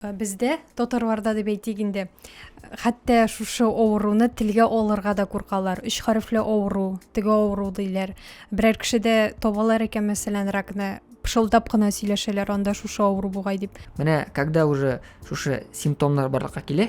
Бездә, татарларда дип әйтик инде, хәтта шушы авыруны телгә алырга да куркалар. Өч хәрефле авыру, теге авыру диләр. Берәр кеше дә табалар икән, мәсәлән, ракны, пышылдап кына сөйләшәләр, анда шушы авыру бугай дип. Менә когда уже шушы симптомнар барлыкка килә,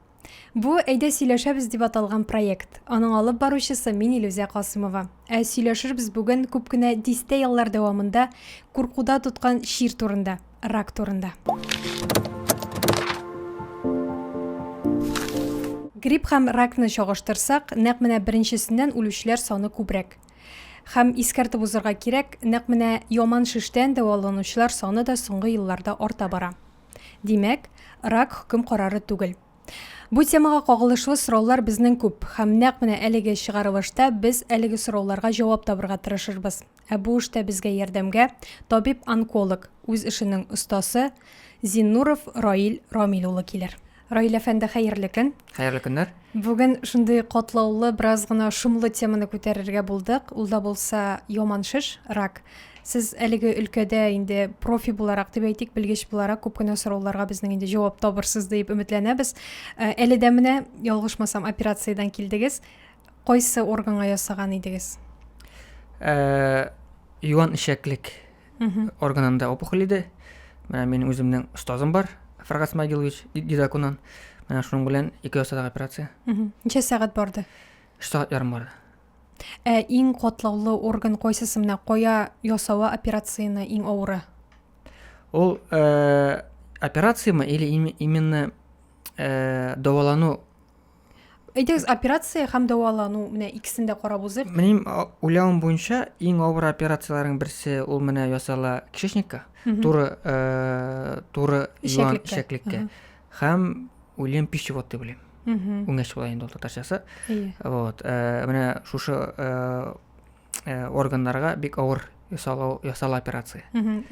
Бу Әйдә сөйләшәбез дип аталган проект. Аның алып баручысы мин Илүзә Касымова. Ә сөйләшербез бүген күп кенә дистә еллар дәвамында куркуда тоткан чир турында, рак турында. Грипп һәм ракны чагыштырсак, нәкъ менә беренчесеннән үлүчеләр саны күбрәк. Һәм искәртеп узырга кирәк, нәкъ менә яман шештән дәваланучылар саны да соңгы елларда арта бара. Димәк, рак хөкем карары түгел. Бу темага кагылышлы сораулар безнең күп, һәм нәкъ менә әлеге чыгарылышта без әлеге сорауларга җавап табырга тырышырбыз. Ә бу эштә безгә ярдәмгә табиб-онколог, үз эшенең остасы Зиннуров Раил Рамил улы килер. Раил әфәнде, хәерле көн. Хәерле көннәр. Бүген шундый катлаулы, бераз гына шомлы теманы күтәрергә булдык. Ул да булса яман шеш, рак. Сез әлеге өлкәдә инде профи буларак дип әйтик, белгеч буларак күп кенә сорауларга безнең инде җавап табырсыз дип өметләнәбез. Э, әле дә менә, ялгышмасам, операциядән килдегез. Кайсы органга ясаган идегез? Э, юан ишәклек органында опухоль иде менә минем үземнең остазым бар фаргат смагилович дидакунан менә шуның белән ике ясадык операция ничә сәгать барды өч сәгать ярым барды ә иң катлаулы орган кайсысы менә кая ясауы операцияне иң авыры ул э, операцияме или именно э, давалану Әйдәгез, операция һәм дәвалану, менә икесен дә карап узыйк. Минем уйлавым буенча, иң авыр операцияләрнең берсе ул менә ясала кишечникка, туры э, туры юан ишәклеккә. Һәм уйлыйм пищевод дип уйлыйм. Үңәч була инде ул татарчасы. Вот, э, менә шушы э, э, органнарга бик авыр ясалу ясала операция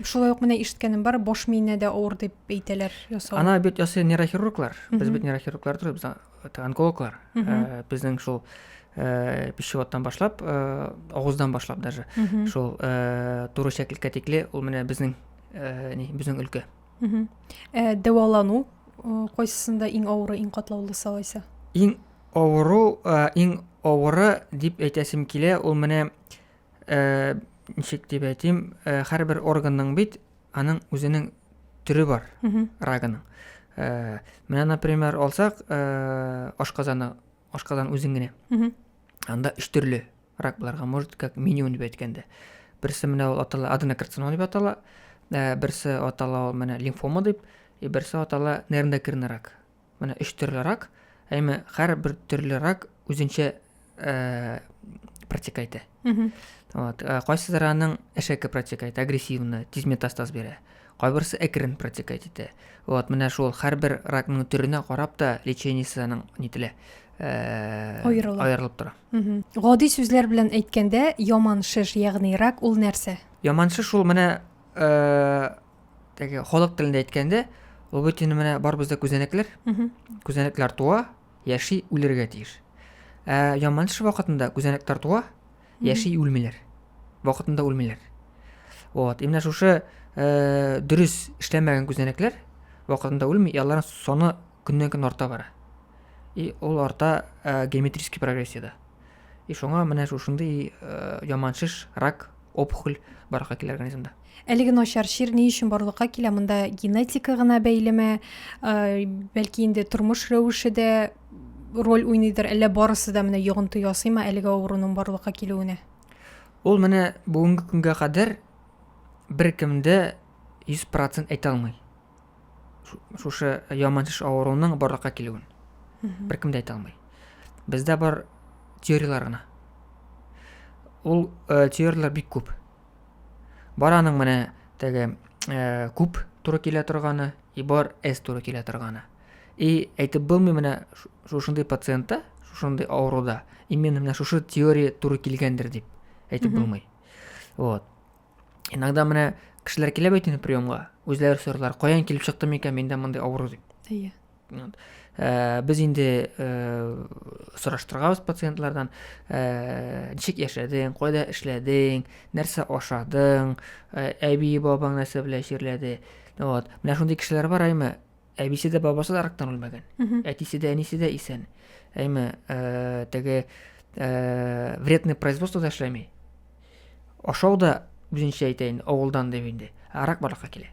шулай ук менә ишеткәнем бар баш миенә дә авыр дип әйтәләр ясау ана бит ясый нейрохирурглар без бит нейрохирурглар түгел без э, онкологлар э, безнең шул э, пищеводтан башлап авыздан башлап даже шул туры шәклеккә тикле ул менә безнең безнең өлкә дәвалану кайсысында иң авыры иң катлаулысы алайса иң Авыру, иң авыры дип әйтәсем килә, ул менә ничек дип әйтим, һәрбер органның бит аның үзенең төре бар, рагының. Менә, например, алсак, ашказаны, ашказан үзен генә. Анда өч төрле рак буларга может, как минимум дип әйткәндә. Берсе менә ул атала аденокарцинома дип атала, берсе атала ул менә лимфома дип, и берсе атала нервно-кирный рак. Менә өч төрле рак, әйме һәрбер төрле рак үзенчә э, протека итә. Вот, э, кайсылары аның әшәке протека итә, агрессивны, тиз метастаз бирә. Кайберсе әкрен протека итә. Вот, менә шул һәрбер ракның төренә карап та лечениесе аның нителә. Э, аерылып. аерылып тора. Гади сүзләр белән әйткәндә, яман шеш, ягъни рак ул нәрсә? Яман шеш ул менә э, теге халык телендә әйткәндә ул бит инде менә барыбызда күзәнәкләр күзәнәкләр туа яши үлергә тиеш ә яман эш вакытында күзәнәкләр туа яши үлмиләр вакытында үлмиләр вот именно шушы ә, дөрес эшләмәгән күзәнәкләр вакытында үлми и аларның саны көннән көн арта бара и ул арта ә, геометрический прогрессияда и шуңа менә шушындый ә, яман шеш рак опухоль баракка килә организмда Әлеге начар чир ни өчен барлыкка килә? Монда генетика гына бәйлеме? Бәлки инде тормыш рәвеше дә роль уйныйдыр, әллә барысы да менә йогынты ясыймы әлеге авыруның барлыкка килүенә? Ул менә бүгенге көнгә кадәр беркемдә 100% әйтә алмый. Шушы яманчыш авыруның барлыкка килүен. Беркем дә әйтә алмый. Бездә бар теорияләр генә. Ул э, теорияләр бик күп. Бар аның менә теге э, күп туры килә торганы, и бар S туры килә торганы. И әйтеп булмый менә шушындый пациентта, шушындый авыруда именно менә шушы теория туры килгәндер дип әйтеп булмый. Вот. Иногда менә кешеләр килә бит инде приемга, үзләре сорыйлар, каян килеп чыкты микән миндә мондый авыру дип. Әйе. ә, без инде ә, сораштыргабыз пациентлардан ә, ничек яшәдең кайда эшләдең нәрсә ашадың ә, әби бабаң нәрсә белән чирләде вот менә шундый кешеләр бар әйме әбисе дә бабасы да рактан үлмәгән әтисе дә әнисе дә исән әйме ә, теге ә, вредный производство да эшләми ашау да үзенчә әйтәйен авылдан дип инде ә рак барлыкка килә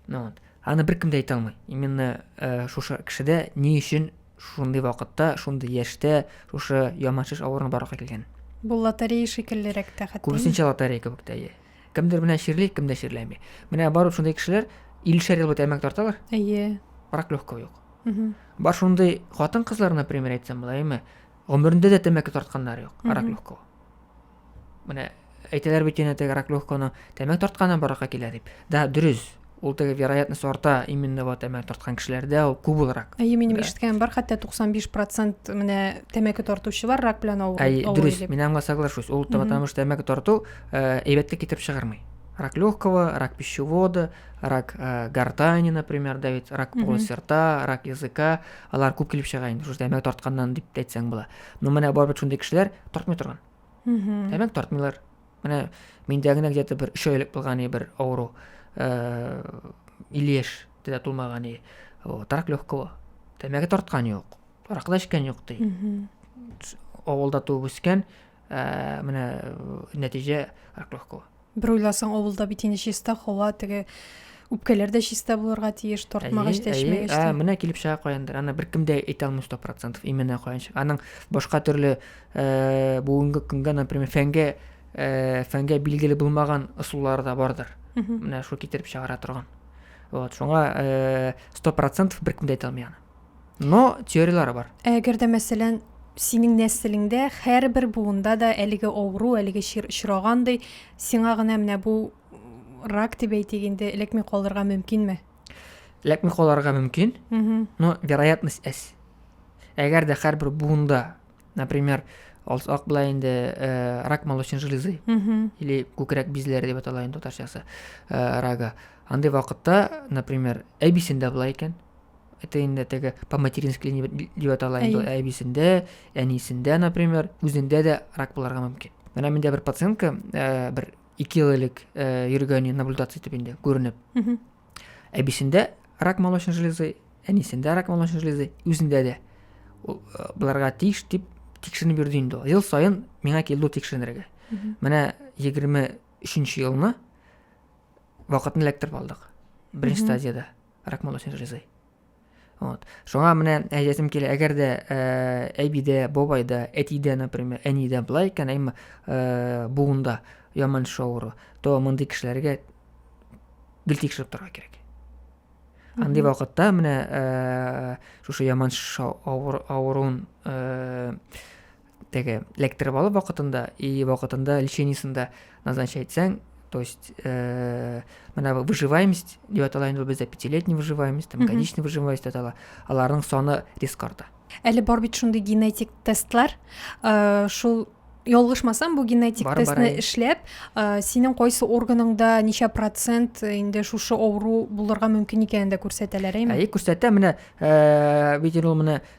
ну, вот. Аны беркем дә әйтә алмый. Именно э, шушы кешедә ни өчен шундый вакытта, шундый яшьтә шушы яманшыш авыруны барлыкка килгән. Бу лотерея шикеллерәк тә хәтта. Күбесенчә лотерея кебек тә. Кемдер менә чирли, кем дә чирләми. Менә бар шундый кешеләр 50 ел бит әмәк тарталар. Әйе. Рак легкого юк. Бар шундый хатын-кызлар, например, әйтсәм була, әйме? Гомерендә дә тәмәке тартканнары юк, рак легкого. Менә әйтәләр бит янә теге рак легконы тәмәк тартканнан баракка килә дип. Да, дөрес. Ул теге вероятность арта именно вот тәмәк тарткан кешеләрдә ул күп булрак. Әйе, минем ишеткәнем бар, хәтта 95% менә тәмәке тартучылар рак белән авыру. Әйе, дөрес. Мин аңа соглашусь. Ул потому что тәмәке тарту э, әйбәтлек китереп чыгармый. Рак легкого, рак пищевода, рак э, гортани, например, да бит, рак полости рта, рак языка, алар күп килеп чыга инде, шушы тәмәке тартканнан дип әйтсәң була. Ну менә бар бит шундый кешеләр тартмый торган. Дәмәк тартмыйлар. Менә миндә генә где-то бер 3 айлык булган и бер авыру. Э 50 яшь тә тулмаган и рак легкого. Дәмәк тарткан юк. Рак да икән юк ди. Авылда туып үскән, э менә нәтиҗә рак легкого. Бер уйласаң, авылда бит инде чиста һава, теге үпкәләр дә чиста булырга тиеш, тартмагач та, эчмәгәч тә. Менә килеп чыга каяндыр. Аны беркем дә әйтә алмый 100%, именно каян чыга. Аның башка төрле э, бүгенге көнгә, например, фәнгә э, фәнгә билгеле булмаган ысуллары да бардыр. Менә шул китереп чыгара торган. Вот, шуңа э, 100% беркем дә әйтә алмый аны. Но теорияләре бар. Ә әгәр дә, мәсәлән, синең нәселеңдә һәрбер буында да әлеге авыру, әлеге чир очрагандый, сиңа гына менә бу рак дип әйтик инде, эләкми калырга мөмкинме? Эләкми калырга мөмкин, но вероятность әз. Әгәр дә һәрбер буында, например, алсак былай инде э, рак молочной железы или күкрәк бизләре дип атала инде татарчасы э, рага. Андый вакытта, например, әбисендә була икән, это инде теге по матерински дип атала инде әбисендә әнисендә например үзендә дә рак булырга мөмкин менә миндә бер пациентка э, бер ике ел элек э, йөргәне наблюдация итеп инде күренеп әбисендә рак молочной железы әнисендә рак молочной железы үзендә дә э, боларга тиеш дип тикшеренеп йөрде инде ул ел саен миңа килде ул тикшеренергә менә егерме өченче елны вакытын эләктереп алдык беренче стадияда рак молочной железы вот шуңа менә әйтәсем килә әгәр дә ә, әбидә бабайда әтидә например әнидә былай икән әмма ә, буында яман шоуры то мондый кешеләргә гел тикшереп торырга кирәк андый вакытта менә ә, шушы яман авыруын ә, теге лекторы алып вакытында и вакытында лечениесен дә назначать итсәң то есть э, мына выживаемость деп атала инде бездә пятилетний выживаемость там годичный выживаемость деп атала аларның саны резко арта әле бар бит шундый генетик тестлар э, шул ялгышмасам бу генетик бар, тестны бар, эшләп ә, синең кайсы органыңда ничә процент э, инде шушы авыру булырга мөмкин икәнен дә күрсәтәләр әйме әйе күрсәтә менә ә, бит ул менә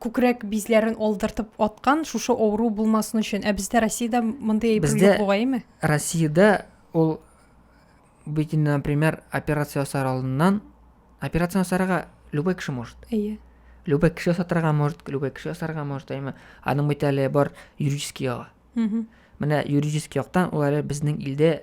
күкрәк бизләрен алдыртып аткан шушы авыру булмасын өчен. Ә бездә Россиядә мондый әйбер Бездә- юк бугаймы? Россиядә ул бит инде, например, операция ясар алдыннан операция ясарга любой кеше может. Әйе. Любой кеше ясатырга может, любой кеше ясарга может, әйме. Аның бит әле бар юридический ягы. Мгм. Менә юридический яктан ул әле безнең илдә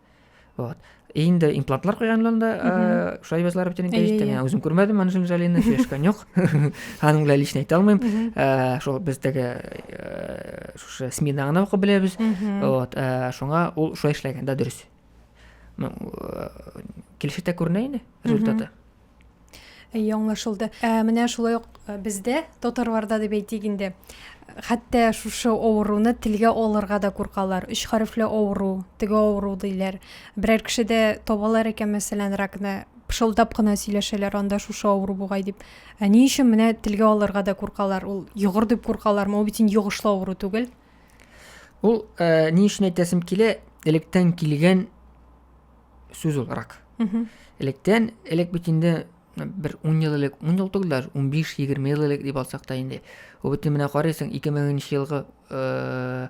вот инде имплантлар куйганнан да э, шулай бәзләр бөтен инде әйттем мин үзем күрмәдем аны җәлинне сөйләшкән юк аның белән лично әйтә алмыйм э, шул бездәге э, шушы смида гына укып беләбез вот шуңа ул шулай эшләгән да дөрес килешетә күренә инде результаты әйе аңлашылды ә менә шулай ук э, бездә татарларда дип әйтик инде хәтта шушы авыруны телгә алырга да куркалар өч хәрефле авыру теге авыру диләр берәр кеше дә табалар икән мәсәлән ракны пышылдап кына сөйләшәләр анда шушы авыру бугай дип ә ни өчен менә телгә алырга да куркалар ул йогыр дип куркалармы ул бит инде йогышлы авыру түгел ул ә, ни өчен әйтәсем килә электән килгән сүз олырак. Электен, элек бит инде бер 10 ел элек, 10 ел түгел, 15-20 ел элек дип алсак та инде. Бу бит менә карыйсың 2000 нче елгы э,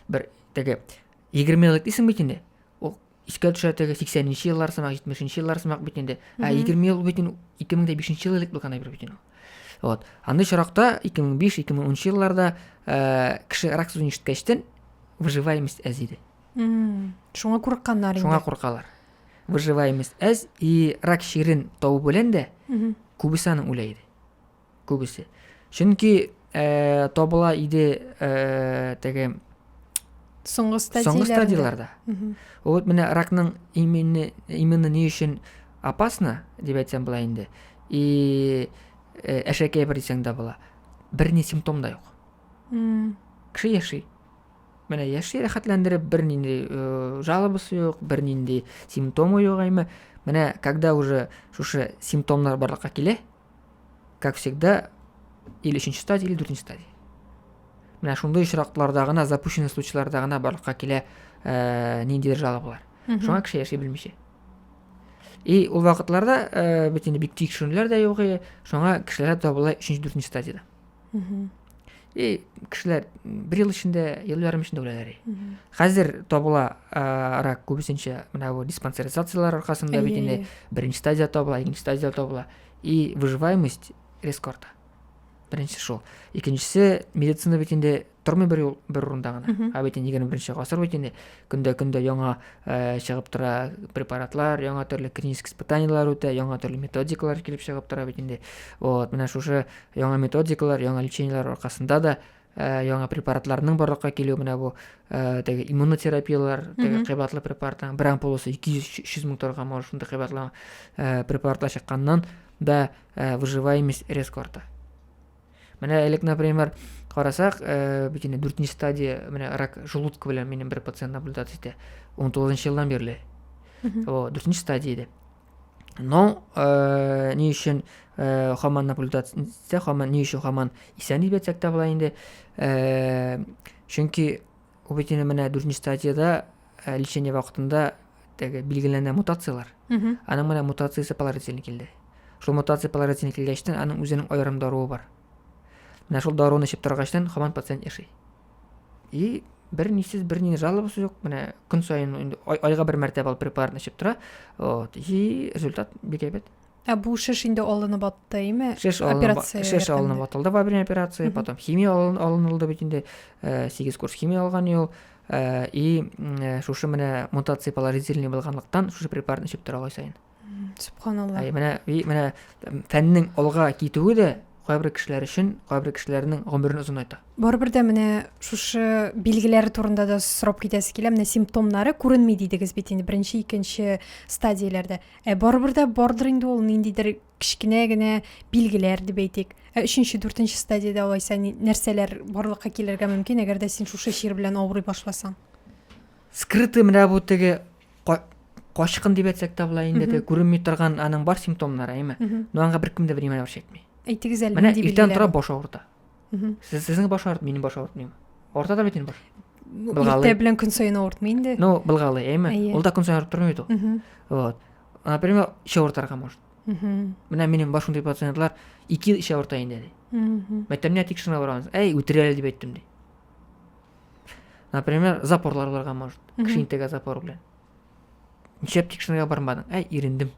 бер теге 20 ел элек дисең бит инде. Ул искә төшә теге 80 нче еллар сымак, 70 нче еллар сымак бит инде. Ә 20 ел бит 2005 ел элек булган әйбер бит инде. Вот. Андый чоракта 2005-2010 елларда э, кеше рак сүзен ишеткәчтен выживаемость әз иде. шуңа курыкканнар инде шуңа куркалар выживаемость әз и рак чирен табу белән дә күбесе аны үлә иде күбесе чөнки ә, табыла иде ә, теге соңгы стадияләрдә вот менә ракның именно именно ни өчен опасно дип әйтсәм былай инде и э, әшәкәй бер дисәң дә була берни симптом да юк кеше яши Менә яши рәхәтләндереп, бернинди жалобасы юк, бернинди симптомы юк әйме. Менә когда уже шушы симптомнар барлыкка килә, как всегда, или өченче стадия, или дүртенче стадия. Менә шундый очракларда гына, запущенный случайларда гына барлыкка килә ә, ниндидер жалобалар. Шуңа кеше яши белмичә. И ул вакытларда ә, бит инде бик тикшерүләр дә юк, шуңа кешеләр табыла өченче, дүртенче стадияда. и кешеләр бер ел эчендә ел ярым эчендә үләләр хәзер табыла рак күбесенчә менә бу диспансеризацияләр аркасында бит инде беренче стадия табыла икенче стадия табыла и выживаемость резко арта беренче шул икенчесе медицина бит инде тормый бер юл бер урында гына ә бит инде егерме беренче гасыр бит инде көндә көндә яңа ә, чыгып тора препаратлар яңа төрле клинический испытаниялар үтә яңа төрле методикалар килеп чыгып тора бит инде вот менә шушы яңа методикалар яңа лечениеләр аркасында да ә, яңа препаратларның барлыкка килүе менә бу ә, теге иммунотерапиялар теге кыйбатлы препаратлар бер ампуласы ике йөз өч йөз мең торган может шундый кыйбатлы ә, препаратлар чыкканнан да ә, выживаемость резко арта Менә элек, например, карасак, э, бит инде 4 стадия, менә рак желудка белән минем бер пациент наблюдация итә. 19 елдан бирле. О, 4 стадия иде. Но э, ни өчен э, хаман наблюдация итсә, хаман ни өчен хаман исән дип әйтсәк тә була инде. Э, чөнки Ул бит инде менә дүртенче стадияда ә, лечение вакытында теге билгеләнә мутацияләр. Аның менә мутациясе поларотилин килде. Шул мутация поларотилин килгәчтен аның үзенең аерым даруы бар. Менә шул даруны эчеп торгачтан хаман пациент яши. И бер нисез бер ни жалобасы юк. Менә көн саен инде айга бер мәртәбә алып препаратны эчеп тора. Вот. И результат бик әйбәт. Ә бу шеш инде алынып аттыймы? Шеш алынып, шеш алынып атылды во время операции, потом химия алын, алынылды бит инде. Э, сигез курс химия алган ел. Э, и э, шушы менә мутация положительный булганлыктан шушы препаратны эчеп тора сайын. Субханалла. Әй менә и менә фәннең алга китүе дә кайбер кешеләр өчен кайбер кешеләрнең гомерен озынайта. Барыбер дә менә шушы билгеләре турында да сорап китәсе килә. Менә симптомнары күренми дидегез бит инде беренче, икенче стадияләрдә. Ә барыбер дә бардыр инде ул ниндидер кечкенә генә билгеләр дип әйтик. Ә өченче, дүртенче стадиядә алайса нәрсәләр барлыкка килергә мөмкин, әгәр дә син шушы чир белән авырый башласаң? Скрытый менә бу теге качкын дип әйтсәк тә була инде, күренми торган аның бар симптомнары, әйме. Но аңа беркем дә внимание чәкми. Әйтегез әле, менә иртән тора баш авырта. сез сезнең баш авырт минем баш авыртмый авырта да бит инде баш былгалы иртә белән көн саен авыртмый инде ну былгалы әйме ул да көн саен авырып тормый бит ул вот например эче авыртырга может менә минем баш шундый пациентлар ике ел эче авырта инде ди мәктәпне тикшеренә барамыз әй үтерә әле дип әйттем ди например запорлар барган может кішкентай запор белән нишләп тикшеренергә бармадың әй ирендем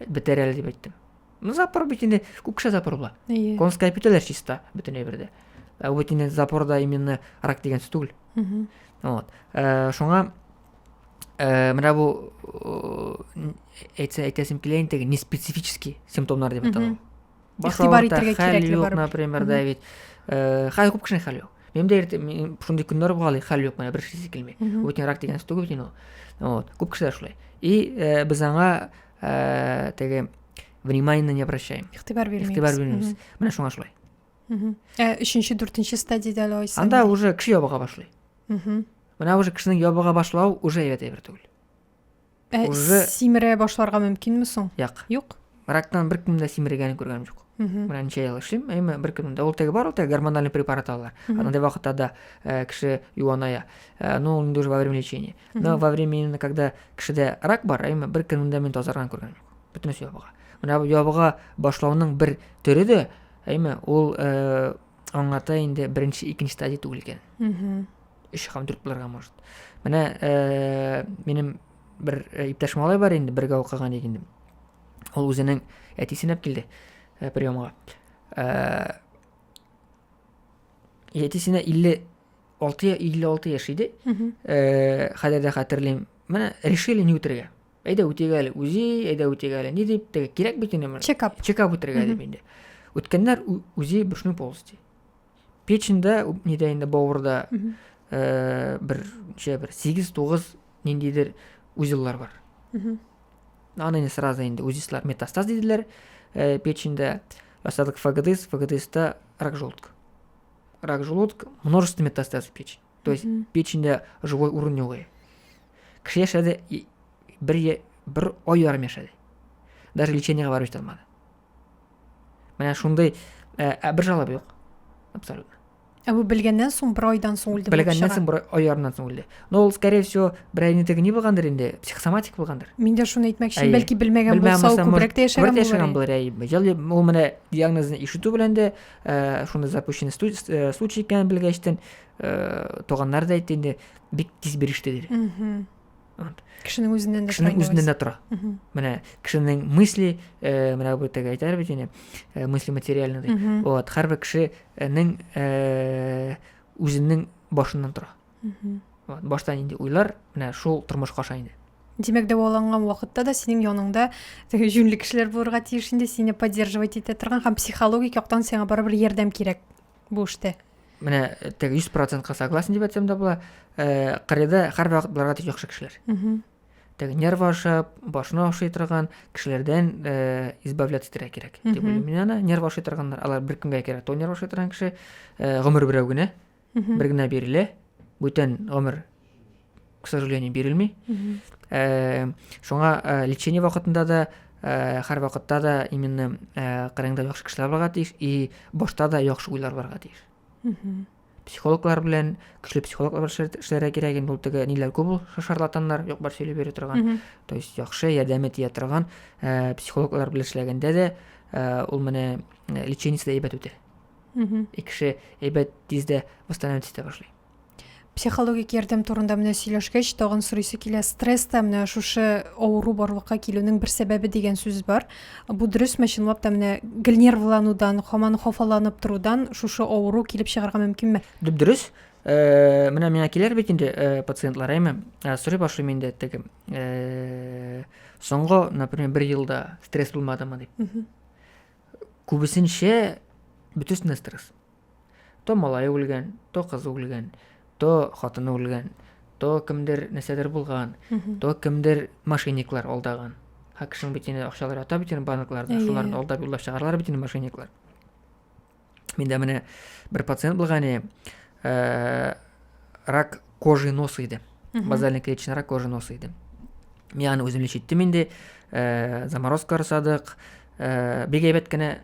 бетәр әле дип әйттем Ну, запор бит инде күп кеше запор була. Әйе. Конская петеләр чиста бөтен әйбердә. Ә бит инде запорда именно рак дигән сүз түгел. Угу. Вот. Э, шуңа э, менә бу э, әйтсә әйтәсем килә инде не специфический симптомнар дип атала. Баш авырта, хәл юк, например, да бит. Э, хәл күп кешенең хәл юк. Минем дә иртә шундый көннәр була, хәл юк менә бер шисе килми. Үтен рак дигән сүз түгел бит инде. Вот. Күп кешеләр шулай. И э, без аңа ә, теге внимание не обращаем игътибар бирмейбез игътибар бирмейбез менә шуңа шулай ә өченче дүртенче стадияда әле айсың анда уже кеше ябыга башлый менә уже кешенең ябыга башлау уже әйбәт әйбер түгел ә, уже симерә башларга мөмкинме соң юк юк рактан беркем дә симергәнен күргәнем юк менә ничә ел эшлим әйме беркем дә ул теге бар ул теге гормональный препарат алалар андай вакытта да кеше юаная ну инде уже во время лечения но во время именно когда кешедә рак бар әйме бер көнендә мин тазарган күргәнем юк бөтенесе ябыга менә ябыга башлауның бер төре дә әйме ул э, аңлата инде беренче икенче стадия түгел икән өч һәм дүрт булырга может менә э, минем бер э, иптәш малай бар инде бергә укыган ик инде ул үзенең әтисен алып килде э, приемга э, әтисенә илле алты я илле алты яшь иде э, хәзер дә хәтерлим менә решили не үтергә әйдә үтик әле үзи әйдә үтик әле ни дип теге кирәк бит инде менә чекап чекап үтергә дип инде үткәннәр үзи брюшной полости печеньдә нидә инде бавырда э, бер ничә бер сигез тугыз ниндидер узеллар бар аны инде сразу инде узислар метастаз диделәр э, печеньдә расадок фгдс фгдста рак желудка Рак желудка, множество метастаз в печень. То есть mm -hmm. печеньдә живой урын юк. Кеше яшәде бер, бер ай ярым яшәде. Даже лечениега барып җитә алмады. Менә шундый ә, ә бер жалоба юк. Абсолютно. Ә бу белгәннән соң бер айдан соң үлде. Белгәннән соң бер ай ярымнан соң үлде. Но ул, скорее всего, бер айны теге ни булгандыр инде, психосоматик булгандыр. Мин дә шуны әйтмәкче, бәлки белмәгән булса, ул күбрәк тә яшәгән булыр. Яшәгән булыр, әйе. Ул менә диагнозны ишетү белән дә Э, шунда запущенный э, случай икәнен белгәчтен э, туганнары да әйтте инде бик тиз биреште диде кешенең үзеннән дә кешенең үзеннән дә тора менә кешенең мысли менә бу теге әйтәләр бит инде мысли материальный ди вот һәрбер кешенең үзенең башыннан тора башта нинди уйлар менә шул тормышка аша инде Димәк, дәваланган вакытта да синең яныңда теге җүнле кешеләр булырга тиеш инде, сине поддерживать итә торган һәм психологик яктан сиңа барыбер ярдәм кирәк бу эштә. Менә э, теге 100%-ка согласен дип әйтсәм дә була. Э, Кырыйда һәрбер вакыт булырга тиеш яхшы кешеләр. Теге нервы ашап, башына ашый торган кешеләрдән э, избавляться итәргә кирәк. Дип уйлыйм мин аны. Нервы ашый торганнар, алар бер көнгә кирәк. То нервы ашый торган кеше гомер берәү генә. бер генә бирелә бүтән гомер к сожалению бирелми э, шуңа э, лечение вакытында да э, һәр вакытта да именно кырыңда яхшы кешеләр барга тиеш и башта да яхшы уйлар барга тиеш психологлар белән көчле психологлар эшләргә кирәк инде ул теге ниләр күп ул шарлатаннар юк бар сөйләп йөри торган то есть яхшы ярдәме тия торган психологлар белән эшләгәндә дә ул менә лечениесе дә әйбәт үтә Угу. И кеше әйбәт тиз дә восстановить итә башлый. Психологик ярдәм турында менә сөйләшкәч, тагын сорыйсы килә. Стресс та менә шушы авыру барлыкка килүнең бер сәбәбе дигән сүз бар. Бу дөресме, чынлап та менә гел нервланудан, хаман хафаланып торудан шушы авыру килеп чыгарга мөмкинме? Дөрес. Э, менә миңа килер бит инде э, пациентлар әйме э, сорый башлыйм инде теге соңгы например бер елда стресс булмадымы дип Күбесенчә бөтесенә стресс. То малае үлгән, то кызы үлгән, то хатыны үлгән, то кемдер нәрсәдер булган, то кемдер мошенниклар алдаган. Ха кешенең бит инде акчалары ята бит инде банкларда, шуларны алдап юллап чыгаралар бит инде мошенниклар. Миндә менә бер пациент булган иде. Э, рак кожи носа иде. Базальный клеточный рак кожи носа иде. Мин аны үзем лечиттем инде. Э, заморозка ясадык. Э, бик әйбәт кенә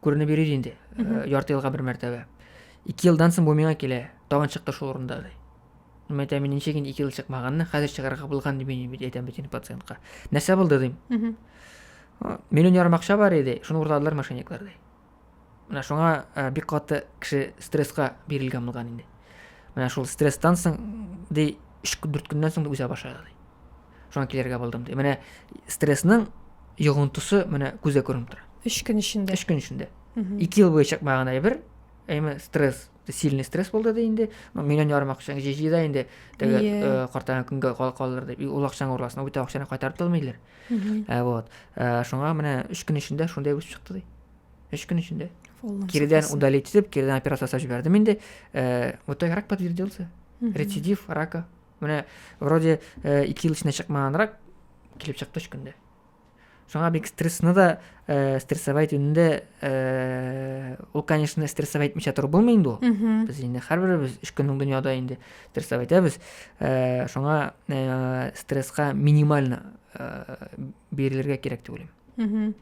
күренеп йөри инде. Э, ярты елга бер мәртәбә. 2 елдан соң бу миңа килә. Тагын чыкты шул урында ди. Мин әйтәм, мин ничек инде 2 ел чыкмаганны, хәзер чыгарга булган дип мин әйтәм бит пациентка. Нәрсә булды дим. Миллион ярым акча бар иде, шуны урладылар мошенниклар ди. менә шуңа э, бик каты кеше стрессқа бирелгән булган инде менә шул стресстан соң ди өч дүрт көннән соң үзә башлады ди шуңа килергә булдым ди менә стрессның йогынтысы менә күзгә күренеп тора өч көн эчендә өч көн эчендә ике ел буе чыкмаган әйбер әйме стресс сильный стресс булды ди инде ну миллион ярым акчаң җыйда инде теге э, картайган көнгә калдырды ул акчаң урласын бит акчаны кайтарып та алмыйлар ә вот ә, шуңа менә өч көн эчендә шундай үсеп чыкты ди өч көн эчендә киридән удалить итеп киридән операция ясап җибәрдем инде ә, в итоге рак подтвердился рецидив рака менә вроде ә, ике ел эчендә чыкмаган рак килеп чыкты өч көндә шуңа бик стрессны да ә, стрессовать инде ә, ул конечно стрессовать итмичә торып булмый инде ул без инде һәрберебез өч көннең дөньяда инде стресстап әйтәбез ә, шуңа ә, стрессқа минимально ә, бирелергә кирәк дип уйлыйм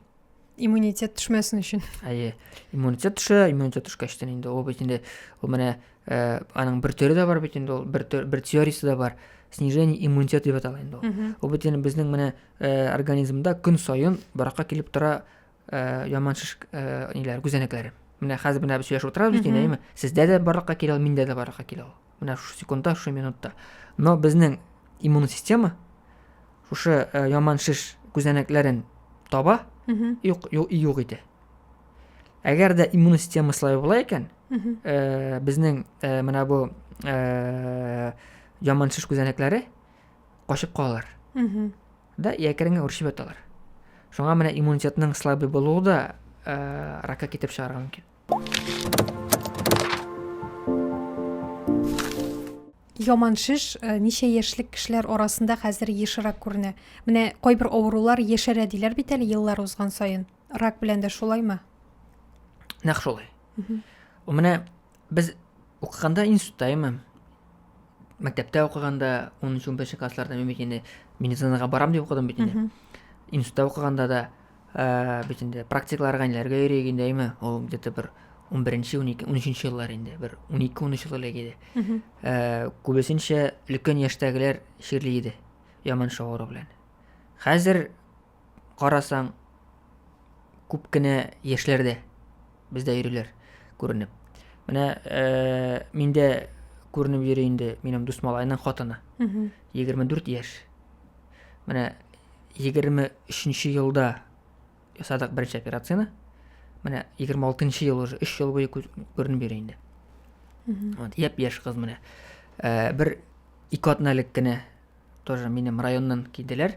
иммунитет төшмәсен өчен әйе иммунитет төшә иммунитет төшкәчтен инде ул бит инде ул менә ә, аның бер төре дә бар бит инде ул бер, бер теориясе дә бар снижение иммунитета дип атала инде ул ул бит инде безнең менә ә, организмда көн саен баракка килеп тора ә, яман шеш ә, ниләр күзәнәкләре менә хәзер менә без сөйләшеп утырабыз дин әйме сездә дә барлыкка килә ул миндә дә барлыкка килә ул менә шушы секундта шушы минутта но безнең иммун система шушы ә, яман шеш күзәнәкләрен таба юк юк итә әгәр дә иммун система слабый була икән ә, безнең ә, менә бу ә, яман шеш күзәнәкләре качып калалар да якереңә үрчеп яталар шуңа менә иммунитетның слабый булуы да ә, ракка китереп чыгарырга мөмкин яман шеш э, ничә яшьлек кешеләр арасында хәзер ешрак күренә менә кайбер авырулар яшәрә диләр бит әле еллар узган саен рак белән дә шулаймы нәкъ шулай менә Без укыганда институтта имем. Мәктәптә укыганда 13-15 классларда мин бит инде медицинага барам дип укыдым бит инде. Институтта укыганда да э, бит инде практикларга ниләргә йөрик инде әйме? Ул где-то бер 11-нче, 12, 13-нче еллар инде, бер 12-13 ел элек иде. Э, күбесенчә өлкән яшьтәгеләр чирли иде яман шагыру белән. Хәзер карасаң, күп кенә яшьләрдә бездә йөриләр күренеп. Менә э, миндә күренеп йөри инде минем дус малайның хатыны. 24 яшь. Менә 23 елда ясадык беренче операцияне. Менә 26 ел уже 3 ел буе күренеп йөри инде. Вот, яп яшь кыз менә. Э, бер ике атналык кенә тоже минем районнан килделәр.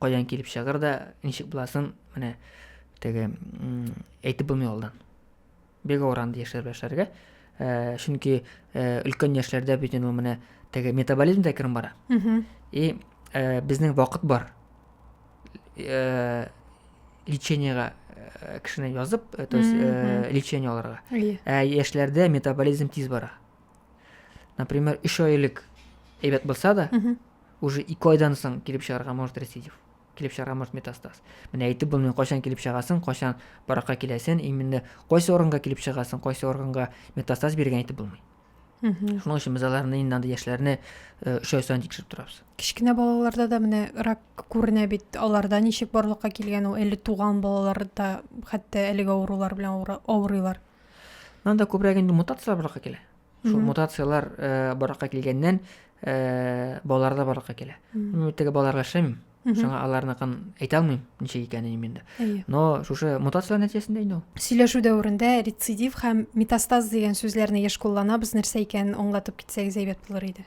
Каян килеп чыгыр да, ничек буласын, менә теге әйтеп булмый алдан. Бик авыр андый яшьләр белән эшләргә. Э, чөнки э, өлкән яшьләрдә бит инде менә теге метаболизм дә кереп бара. И э, безнең вакыт бар. Лечениегә кешене язып, то есть лечение алырга. Ә яшьләрдә метаболизм тиз бара. например үш ай элек әйбәт булса да уже ике айдан соң килеп чыгарга может рецидив килеп чыгарга может метастаз менә әйтеп булмый кайчан килеп чыгасың кайчан баракка киләсең именно кайсы органга килеп чыгасың кайсы органга метастаз биргән әйтеп булмый шуның өчен без аларны инде андай яшьләрне өч ай сайын тикшереп торабыз кечкенә балаларда да менә рак күренә бит аларда ничек барлыкка килгән ул әле туган балаларда хәтта әлеге авырулар белән авырыйлар Анда күбрәк инде мутацияләр барлыкка килә. Шул мутацияләр э, барлыкка килгәннән э, балаларда барлыкка килә. Мин теге балаларга эшләмим. Шуңа аларны кан әйтә алмыйм, ничек икәнен инде. Но шушы мутация нәтиҗәсендә инде ул. Сөйләшү дәверендә рецидив һәм метастаз дигән сүзләрне еш кулланабыз, нәрсә икәнен аңлатып китсәгез әйбәт булыр иде.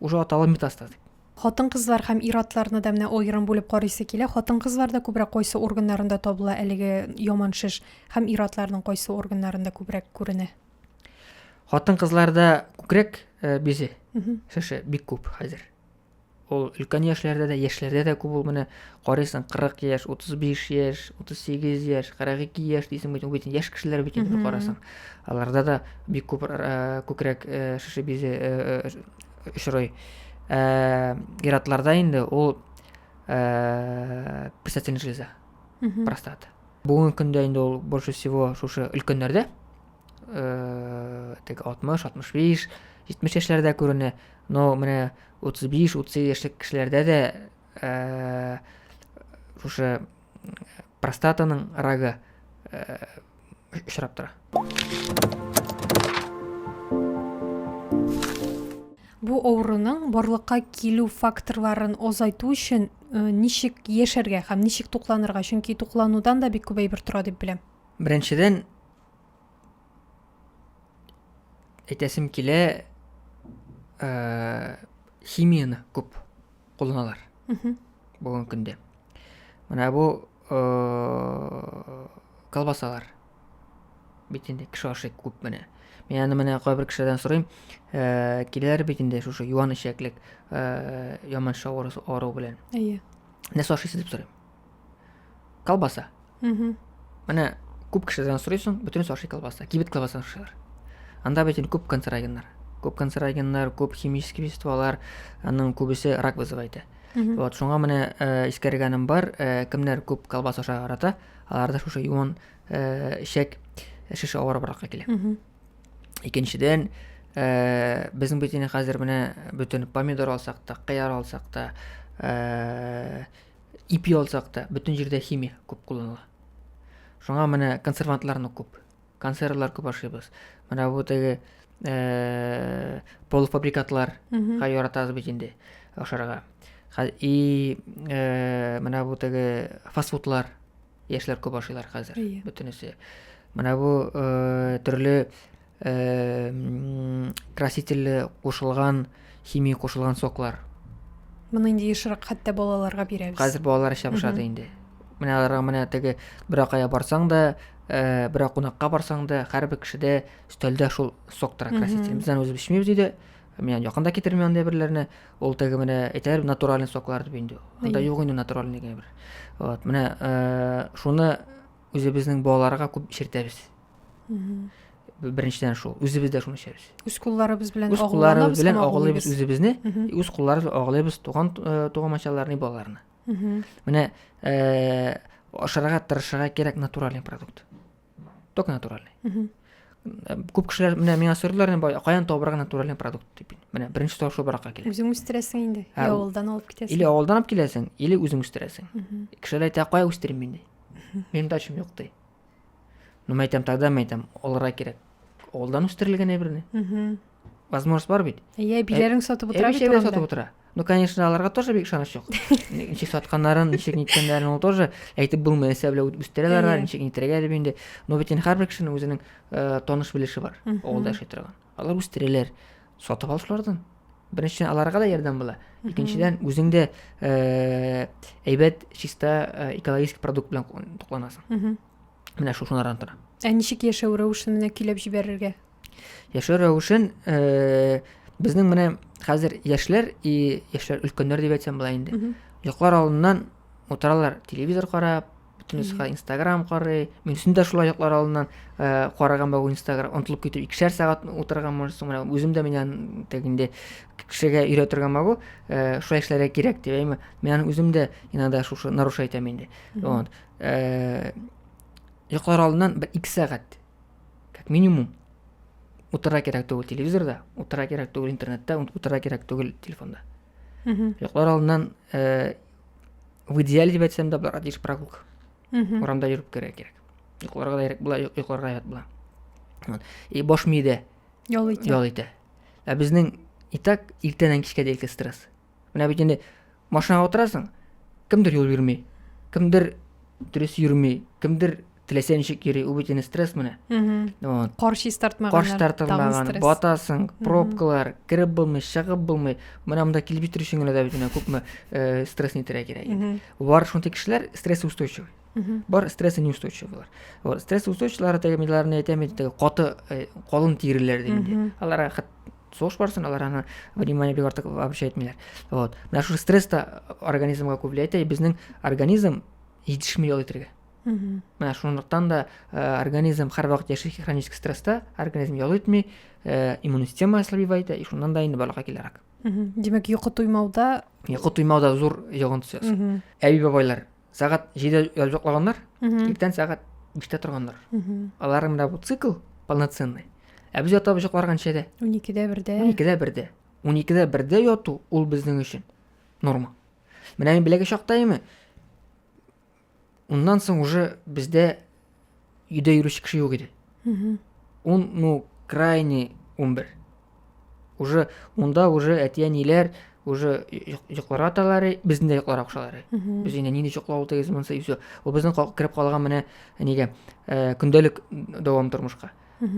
Уже аталы метастаз дип. Хатын-кызлар һәм ир-атларны да менә аерым бүлеп карыйсы килә. Хатын-кызларда күбрәк кайсы органнарында табыла әлеге яман шеш һәм ир-атларның кайсы органнарында күбрәк күренә? Хатын-кызларда күкрәк э, бизе шеше бик күп хәзер. Ул өлкән яшьләрдә дә, яшьләрдә дә күп ул менә карыйсың 40 яшь, 35 яшь, 38 яшь, 42 яшь дисең бит, бит яшь кешеләр бит инде карасаң. Аларда да бик күп күкрәк шеше бизе очрый. Иратларда инде ул предстательная железа, простата. Бүгенге көндә инде ул больше всего шушы өлкәннәрдә, теге 60, 65, 70 яшьләрдә күренә. Но менә 35-30 яшьлек кешеләрдә дә шушы простатаның рагы очрап тора бу авыруның барлыкка килү факторларын азайту өчен ничек яшәргә һәм ничек тукланырга чөнки тукланудан да бик күп әйбер тора дип беләм беренчедән әйтәсем килә химияны күп кулланалар бүгенге көндә менә бу колбасалар бит инде кеше ашый күп менә мин аны менә кайбер кешеләрдән сорыйм ә, киләләр бит инде шушы юан эчәклек ә, яман шавыр ару белән әйе нәрсә ашыйсыз дип сорыйм Колбаса. Угу. Менә күп кешедән сорыйсың, бөтенесе ашый колбаса. Кибет колбасын ашыйлар. Анда бит инде күп канцерогеннар. Күп канцерогеннар, күп химический веществолар, аның күбесе рак вызывает. Э. Вот, шуңа менә э, искәргәнем бар, э, кемнәр күп колбаса ашарга ярата, аларда шушы юан э, шәк шеше авырыбракка килә. Угу. Икенчедән, э, безнең бит инде хәзер менә бөтен помидор алсак та, кыяр алсак та, э, Ипи алсак та, бөтен җирдә химия күп кулланыла. Шуңа менә консервантларны күп, консервлар күп ашыйбыз. Менә бу теге э, полуфабрикатлар га яратабыз бит инде ашарга. И э, менә бу теге фастфудлар яшьләр күп ашыйлар хәзер yeah. Иә. бөтенесе менә бу ә, төрле ә, красительле кушылган химия кушылган соклар моны инде ешрак хәтта балаларга бирәбез хәзер балалар эчә башлады инде менә аларга менә теге беракая барсаң да ә, берәр кунакка барсаң да һәрбер кешедә өстәлдә шул сок тора краситель бездән үзебез эчмибез өйдә Мин якын да китермим андый берләрне. Ул теге менә әйтәләр натуральный соклар дип инде. Анда юк инде натуральный генә бер. Вот, менә э, шуны үзебезнең балаларга күп эчертәбез. Беренчедән шул, үзебез дә шуны эчәбез. Үз кулларыбыз белән Үз кулларыбыз белән агулыйбыз үзебезне, үз кулларыбыз агулыйбыз туган э, тугамачаларны, балаларны. Менә э, ашарга тырышырга кирәк натуральный продукт. только натуральный күп кешеләр менә миңа сорыйлар каян табарга натуральный продукт дип менә беренче сорау шул баракка килә үзең үстерәсең инде или авылдан алып китәсең или авылдан алып киләсең или үзең үстерәсең кешеләр әйтә кая үстерим мин ди минем дачам юк ди ну мен әйтәм тогда мен әйтәм алырга кирәк авылдан үстерелгән әйберне возможность бар бит иә билерін сатып отыра бит орамда сатып отыра ну конечно аларга тоже бик ышаныч жок ничек сатканнарын ничек ниткәннәрен ул тоже әйтеп булмый әсәбле үстерә алар ничек нитрәгә дип инде но бит инде һәрбер кешенең үзенең э, таныш белеше бар авылда яши торган алар үстерәләр сатып ал шулардан беренчедән аларга да ярдәм була икенчедән үзең дә э, әйбәт чиста э, экологический продукт белән тукланасың менә шушылардан тора ә ничек яшәү рәвешен менә көйләп җибәрергә яшәү рәвешен э, безнең менә хәзер яшьләр и яшьләр өлкәннәр дип әйтсәм болай инде йоклар алдыннан утыралар телевизор карап бөтенесе инстаграм карый мин үзем дә шулай йоклар алдыннан э, караган бабу инстаграм онтылып китеп икешәр сәгать утырган можесың менә үзем дә менә тек инде кешегә өйрәтә торган бабу э, шулай эшләргә кирәк дип әйме мен үзем дә иногда шушы нарушать итәм инде вот йоклар алдыннан бер ике сәгать как минимум утыра кирәк түгел телевизорда утыра кирәк түгел интернетта утыра кирәк түгел телефонда йоклар алдыннан э, в идеале деп айтсам да бара дейш прогулка урамда жүріп кере керек йокларга да була йокларга ят була и баш миедә ял итә ял итә ә безнең и так иртәннән кичкә дәлке стресс менә бит инде машинага утырасың кемдер юл бирми кемдер дөрес йөрми кемдер теләсә ничек йөри ул бит инде стресс менә вот кар чистартмаган кар чистартылмаган батасың пробкалар кереп булмый чыгып булмый менә монда килеп җитер өчен генә дә бит менә күпме э, стресс нитәргә кирәк инде бар шундый кешеләр стресс устойчивый бар стрессы неустойчивыйлар вот стресс устойчивыйлары теге миларны әйтәм бит теге каты э, калын тиреләр дигәндә аларга сугыш барысында алар аны внимание бик артык вообще итмиләр вот менә шушы стресс та организмга күп влиять итә безнең организм җитешми ял итәргә менә шунлыктан да э, организм һәрвакыт яши хронический стресста организм ял итми э, иммунный система ослабевает и шуннан да инде балага килә рак демәк йокы туймауда йокы туймауда зур йогынтысы әби бабайлар сәгать җиде язып йоклаганнар иртән сәгать биштә торганнар аларның менә бу цикл полноценный ә без ятабыз йокларга ничәдә уникедә бердә уникедә бердә уникедә бердә яту ул безнең өчен норма менә мин беләге чакта оннан соң уже бездә өйдә йөрүче кеше юк иде он ну крайне он бер уже унда уже әти әниләр уже йокларга аталар безне дә йокларга кушалар без инде нинди йоклау ул тегесе монысы и все ул безнең кереп калган менә нигә э, көндәлек дәвам тормышка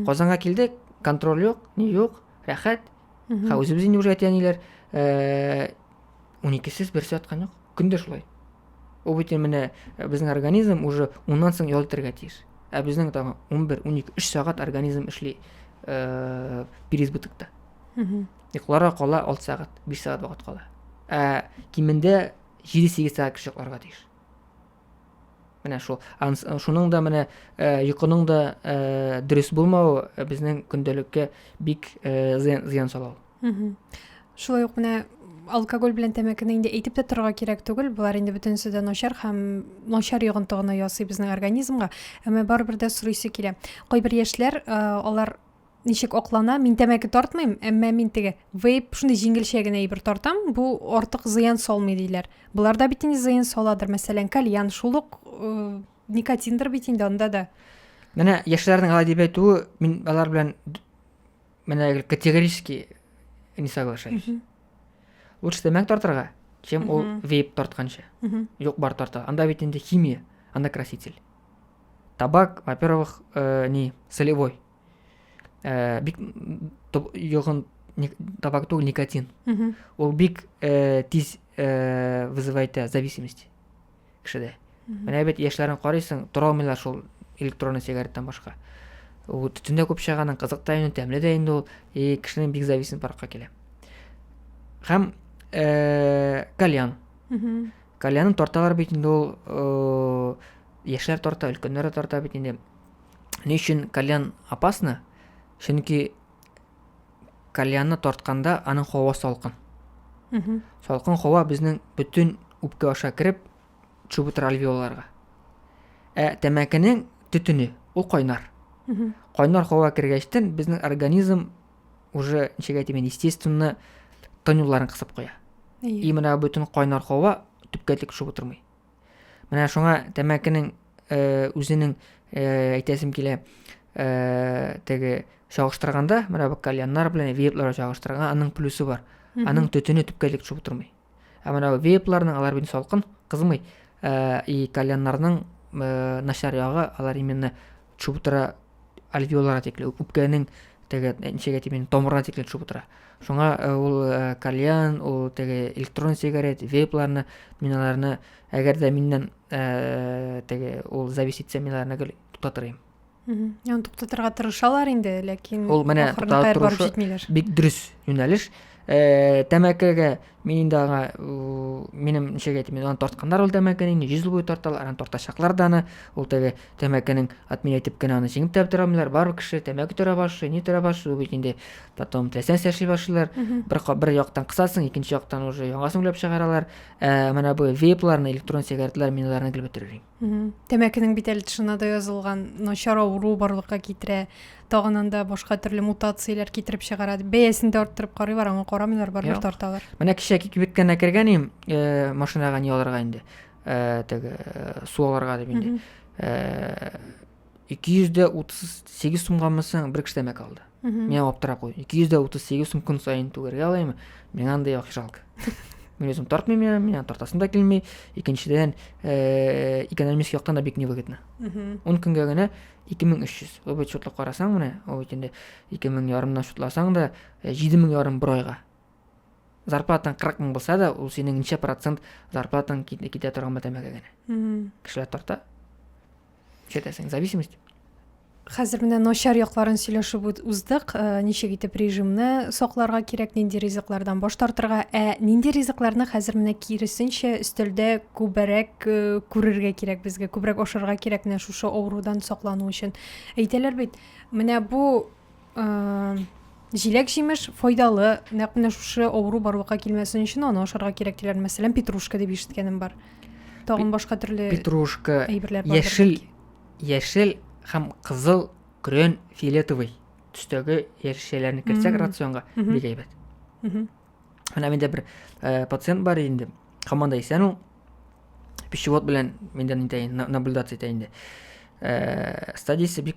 казанга килдек контроль юк ни юк рәхәт ха үзебез инде уже әти әниләр э, уникесез берсе яткан юк көн дә шулай ул бит менә э, безнең организм уже уннан соң ял итәргә тиеш ә безнең тагын он бер унике өч сәгать организм эшли э, переизбытокта йокларга кала алты сәгать биш сәгать вакыт кала ә кимендә җиде сигез сәгать кеше йокларга тиеш менә шул шуның да менә э, йокының да э, дөрес булмавы э, безнең көндәлеккә бик зыян сала ул шулай ук менә алкоголь белән тәмәкене инде әйтеп тә торырга кирәк түгел болар инде бөтенесе дә начар һәм начар йогынты гына ясый безнең организмга әмма барыбер дә сорыйсы килә кайбер яшьләр алар ничек аклана мин тәмәке тартмыйм әмма мин теге вейп шундый җиңелчә генә әйбер тартам бу артык зыян салмый диләр болар да бит инде зыян саладыр мәсәлән кальян шул ук э, никотиндер бит инде анда да менә яшьләрнең алай дип әйтүе мин алар белән менә категорически не соглашаюсь лучше тәмәк тартырга чем ул вейп тартканча юк бар тарта анда бит инде химия анда краситель табак во первых э, не солевой ә, бик йогын табар түгел никотин ул бик ә, тиз ә, вызывает ә, зависимость кешедә менә бит яшьләрен карыйсың тора алмыйлар шул электронный сигареттан башка ул төтен дә күп чыганың кызык та инде тәмле дә инде ул и кешенең бик зависимость баракка килә һәм ә, кальян кальянын тарталар бит инде ул яшьләр тарта өлкәннәр дә тарта бит инде Ни өчен кальян опасно? Чөнки кальянны тартканда аның һава салкын. Салкын һава безнең бөтен үпкә аша кереп, төшеп утыра альвеоларга. Ә тәмәкенең төтене ул кайнар. Кайнар һава кергәчтен безнең организм уже ничек әйтим инде, естественно, тын юлларын кысып куя. И менә бөтен кайнар һава төпкә төшеп утырмый. Менә шуңа тәмәкенең э, үзенең э, әйтәсем килә э, теге чагыштырганда, менә бу кальяннар белән вейпларга чагыштырганда аның плюсы бар. Аның төтене төпкә элек төшеп утырмый. Ә менә вейпларның алар бит салкын, кызмый. Э, и кальяннарның э, начар ягы алар именно төшеп утыра альвеоларга тикле үпкәнең теге ничәгә тимен томырына тикле төшеп утыра шуңа э, ул э, кальян ул теге электрон сигарет вейпларны мин аларны әгәр дә миннән э, теге ул завис итсә мин аларны гел туктатырым яны туктатырга тырышалар инде ләкин ул менә туктатып торышы бик дөрес юнәлеш Э, тәмәкегә мин инде аңа минем ничек әйтим аны тартканнар ул тәмәкене инде йөз ел буе тарталар аны тартачаклар да аны ул теге тәмәкенең атмин әйтеп кенә аны җиңеп тә бетерә алмыйлар бар кеше тәмәке төрә башлый ни төрә башлый бит инде потом теләсә нәрсә эшли башлыйлар бер бер яктан кысасың икенче яктан уже яңасын уйлап чыгаралар ә менә бу вейпларны электрон сигаретлар мин аларны гел бетерер идем тәмәкенең бит әле тышына да язылган начар авыру барлыкка китерә тагын анда башка төрле мутацияләр китереп чыгара бәясен дә арттырып карыйлар аңа карамыйлар барыбер тарталар менә кичә кибеткәнә кергән идем э, машинага не алырга инде э, теге э, су алырга дип инде э, ике йөз дә утыз сегез сумга мынсаң бер кешедән мәк алды миңа аптырап куйды ике йөз дә утыз сегез сум көн саен түгәргә алаймы миңа андай акча жалко мин өзүм тартмыйм миңа миңа тартасым да килми икенчедән э, экономический яктан да бик невыгодно он көнгә генә ике мең өч йөз ул бит счетлап карасаң менә ул бит инде ике мең ярымнан счетласаң да э, җиде мең ярым бер айга зарплатаң кырык мең булса да ул синең ничә процент зарплатаң китә торган бер тәмәке генә кешеләр тарта ишетәсең зависимость хәзер менә начар якларын сөйләшеп уздык э, ничек итеп режимны сакларга кирәк нинди ризыклардан баш тартырга ә нинди ризыкларны хәзер менә киресенчә өстәлдә күбрәк э, күрергә кирәк безгә күбрәк ашарга кирәк менә шушы авырудан саклану өчен әйтәләр бит менә бу җиләк җимеш файдалы нәкъ менә шушы авыру барлыкка килмәсен өчен аны ашарга кирәк диләр мәсәлән петрушка дип ишеткәнем бар тагын башка төрле петрушка яшел яшел һәм кызыл көрән фиолетовый төстәге яшелчәләрне кертсәк рационга бик әйбәт менә миндә бер э, пациент бар инде һаман да исән ул пищевод белән миндә итә наблюдация итә инде э, стадиясе бик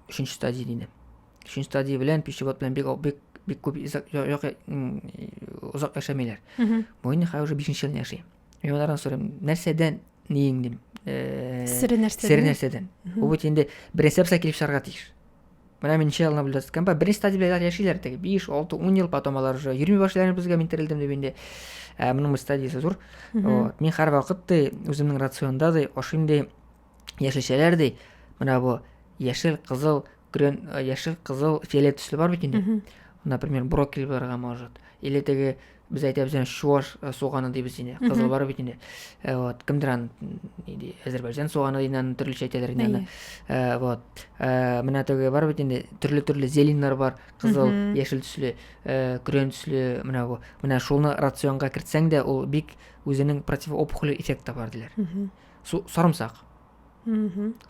Өченче стадия диде. Өченче стадия белән пищевод белән бик бик бик күп озак яшәмиләр. Бу инде хәзер уже бишенче елны яши. Мин алардан сорыйм, нәрсәдән ниең дим? Э, Сире нәрсәдән? Сире нәрсәдән? Бу бит инде беренче апса килеп чыгарга тиеш. Менә мин ничә елны беләс кәмпә, беренче стадия белән яшиләр теге 5, 6, 10 ел потом алар уже йөрми башлыйлар безгә мин терелдем дип инде. Ә моның стадиясе зур. Вот. Мин һәр вакыт ди, үземнең рационда ди, ашыйм ди, яшелчәләр ди менә бу яшел кызыл грен э, яшел кызыл фиолет төсле бар бит инде например брокколи булырга может или теге без әйтәбез аны чуваш э, суганы дибез инде кызыл бар бит инде э, вот кемдер аны әзербайжан суганы дип аны төрлечә әйтәләр инде аны э, вот менә теге бар бит инде төрле төрле зеленнар бар кызыл яшел төсле көрән төсле менә бу менә шуны рационга кертсәң дә ул бик үзенең противоопухоль эффекты бар диләр сарымсак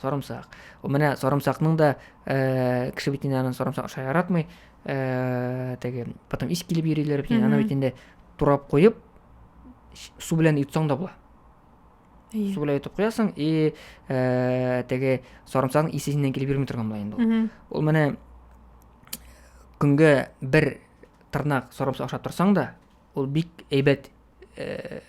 сарымсак менә сарымсакның да э, кеше бит инде аны сарымсак аша яратмый э, теге потом ис килеп йөриләр бит аны бит инде турап куеп су белән йотсаң да була су белән йотып куясың и э, теге сарымсакның исе синнән килеп йөрми торган була инде ул ул менә көнгә бер тырнак сарымсак ашап торсаң да ул бик әйбәт э,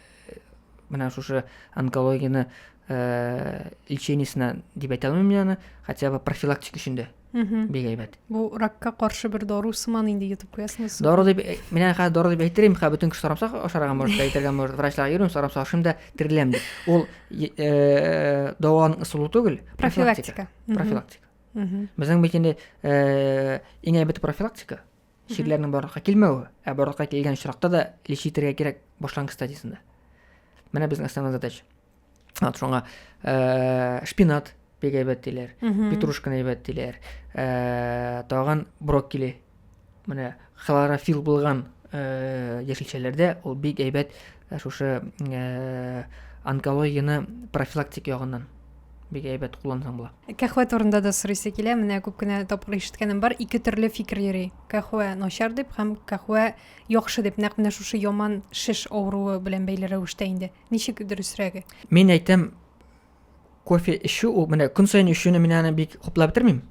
менә шушы онкологияны э, лечениесенә дип әйтә алмыйм аны хотя бы профилактик өчен дә бик әйбәт бу ракка каршы бер дару сыман инде йотып куясыңыз дару дип э, мин әле хәзер дару дип әйтер идем хәзер бөтен кеше сарамсак ашарга может әйтергә может врачларга йөрим сарамсак ашыйм да тереләм дип ул э, дауаның ысулы түгел профилактика профилактика безнең бит инде иң әйбәте профилактика чирләрнең барлыкка килмәве, ә барлыкка килгән очракта да лич итәргә кирәк башлангыч стадиясендә. Менә безнең основной задача. Ат шуңа э, шпинат бик әйбәт диләр, петрушканы әйбәт диләр, э, тагын брокколи. Менә хлорофилл булган э, яшелчәләрдә ул бик әйбәт Ә шушы э, онкологияне профилактик ягыннан бик әйбәт куллансаң була. Кәхвә турында да сорыйсы килә. Менә күп кенә тапкыр ишеткәнем бар. Ике төрле фикер йөри. Кәхвә начар дип һәм кәхвә яхшы дип. Нәкъ менә шушы яман шеш авыруы белән бәйле рәвештә инде. Ничек дөресрәге? Мин әйтәм, кофе эчү ул менә көн саен эчүне мин аны бик хуплап бетермим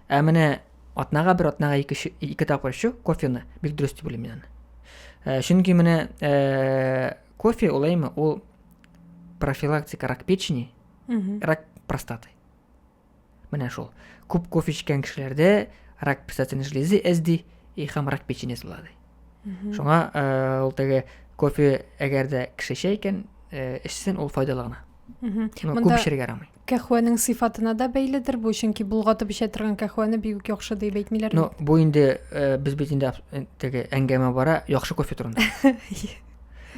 ә менә атнага бер атнага ике ике тапкыр эчү кофені бик дөрес дип уйлыйм мин аны ә, чөнки менә ә, кофе олаймы ул профилактика рак печени рак простаты Менә шул. Күп кофе эчкән кешеләрдә рак печатенә железы әзди, и хам рак печени злады. Шуңа э, ул теге кофе әгәр дә кеше чәй икән, э, эчсен ул файдалы гына. Ну, Монда- күп эчәргә ярамый. Кәхвәнең сыйфатына да бәйледер бу, чөнки булгатып эчә торган кәхвәне бик үк яхшы дип әйтмиләр. Ну, бу инде э, без бит инде абс- э, теге әңгәмә бара яхшы кофе турында.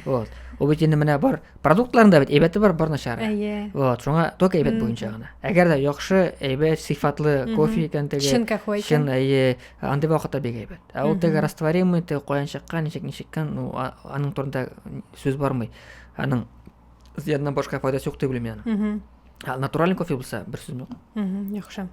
вот ул бит инде менә бар продуктларында бит әйбәте бар бар начары әйе вот шуңа только әйбәт буенча гына әгәр дә яхшы әйбәт сыйфатлы кофе икән теге чын кафе чын әйе андый вакытта бик әйбәт ә ул теге растворимый теге каян чыккан ничек ничеккан ну аның турында сүз бармый аның зыяннан башка файдасы юк дип уйлыйм яны ә натуральный кофе булса бер сүз юк яхшы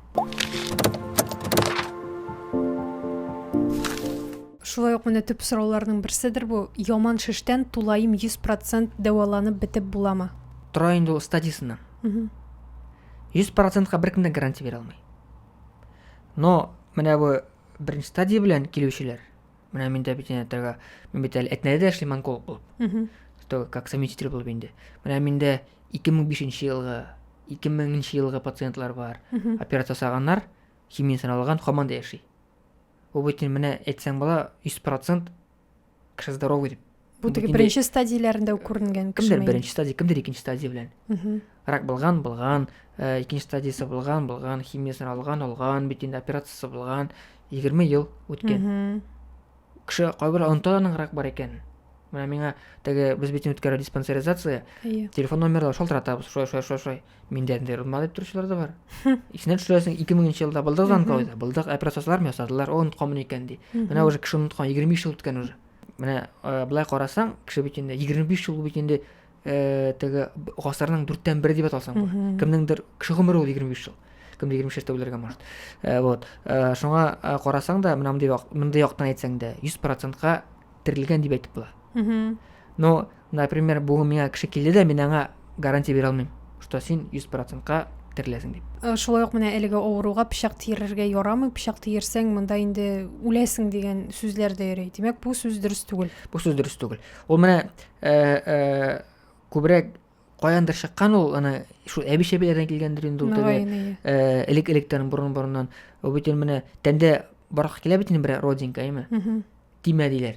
шулай ук менә төп сорауларның берседер бу яман шештән тулаем 100 процент дәваланып бетеп буламы тора инде ул стадиясеннән йөз процентка беркем дә гарантия бирә алмый но менә бу беренче стадия белән килүчеләр Менә мин дә бит инәтәргә, мин бит әле әтнәдә дә эшлим онколог булып. Что, как совместитель булып инде. Менә миндә 2005 елгы, 2000 елгы пациентлар бар. Операция ясаганнар, химия саналган, хаман да яши. Бу бит менә әйтсәң була 100% кеше здоровый дип. бу теге беренче стадияләрендә үк күренгән кемдер беренче стадия кемдер икенче стадия белән рак булган булган э, икенче стадиясе булган булган химиясен алган алган бит инде операциясы булган егерме ел үткән кеше кайбер оныта аның рак бар икәнен менә миңа теге без бит үткәрә диспансеризация иә телефон номерлар шалтыратабыз шулай шулай шулай шулай миндә ниндәй рунма дип торучылар да бар исенә төшерәсең ике меңенче елда былдык занкоида былдык операциялар ясадылар ул онытканмын икән ди менә уже кеше оныткан егерме биш жыл үткән уже Менә э, былай карасаң, кеше бит инде 25 ел бит инде э, теге гасырның дүрттән бере дип аталсаң була. Кемнеңдер кеше гомере ул 25 ел. Кемдер 25 яшьтә үләргә может. Э, вот. Э, шуңа э, карасаң да, менә мондый як, мондый яктан әйтсәң дә, 100%-ка терелгән дип әйтеп була. Но Например, бүген миңа кеше килде дә, мин аңа гарантия бирә алмыйм, что син 100 процентка тереләсең дип. Шулай ук менә әлеге авыруга пычак тиерергә ярамый, пычак тиерсәң, монда инде үләсең дигән сүзләр дә йөри. Димәк, бу сүз дөрес түгел. Бу сүз дөрес түгел. Ул менә э, э, күбрәк каяндыр чыккан ул, аны шул әби-шәбиләрдән килгәндер инде ул теге иә. э, элек-электән борын-борыннан. Ул бит инде менә тәндә барак килә бит инде бер родинка, әйме? Тимә диләр.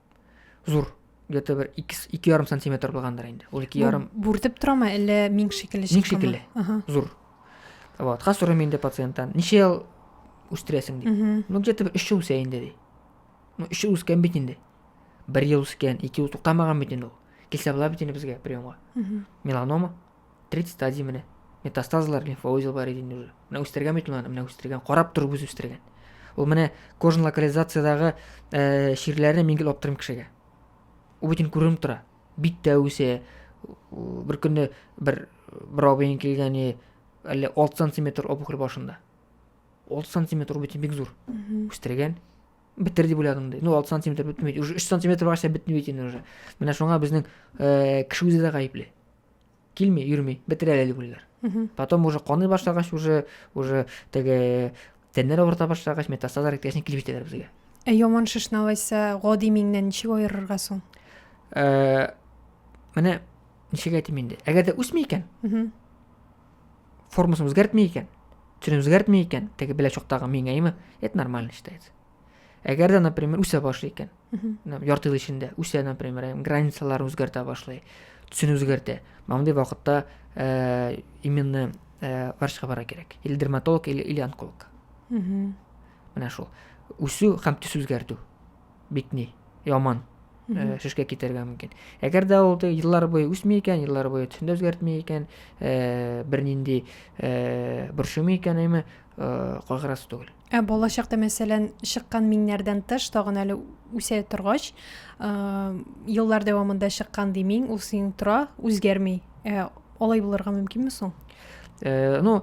зур где то бер ике ярым сантиметр булгандыр инде ул ике ярым бүртеп тора ма әллә миң шикелле миң шикелле зур вот хас сорыйм инде пациенттан ничә ел үстерәсең дип ну где то бер өч ел үсә инде ди ну өч ел үскән бит инде бер ел үскән ике ел туктамаган бит инде ул килсә була бит инде безгә приемга меланома 30 стадия менә метастазлар лимфа узел бар иде инде уже менә үстергән бит аны менә үстергән карап торып үзе үстергән ул менә кожан локализациядагы ә, чирләрне мин гел аптырыйм кешегә ул бөтен күренеп тора бит тә үсә бер көнне бер бер абыең килгәне әллә алты сантиметр опухоль башында алты сантиметр ул бөтен бик зур үстергән бетер дип уйладым ди ну алты сантиметр бетмейді уже үш сантиметр барса бетмейді инде уже менә шуңа безнең ә, кеше үзе дә гаепле килми йөрми бетерә әле үләләр потом уже каный башлагач уже уже теге тәннәр авырта башлагач метастазлар киткәчне килеп җитәләр безгә ә яман шешне алайса гади миңнән ничек аерырга соң ә, менә ничек әйтим инде әгәр дә үсми икән формасын үзгәртми икән төсен үзгәртми икән теге беләчоктагы миңәеме это нормально считается Әгәр дә, например, үсә башлый икән, ярты ел эчендә үсә, например, границаларын үзгәртә башлый, төсен үзгәртә. Мондый вакытта э, именно э, врачка бара кирәк. Или дерматолог, или, или онколог. Менә шул. Үсү һәм төс үзгәртү. Битни, яман э, шешкә китәргә мөмкин. Әгәр дә ул еллар буе үсми икән, еллар буе төсен дә үзгәртми икән, э, бернинди э, борчымый икән, әйме, э, кайгырасы түгел. Ә балачакта, мәсәлән, чыккан миңнәрдән тыш, тагын әле үсә торгач, еллар дәвамында чыккан ди миң, ул синең тора, үзгәрми. Ә алай булырга мөмкинме соң? Э, ну,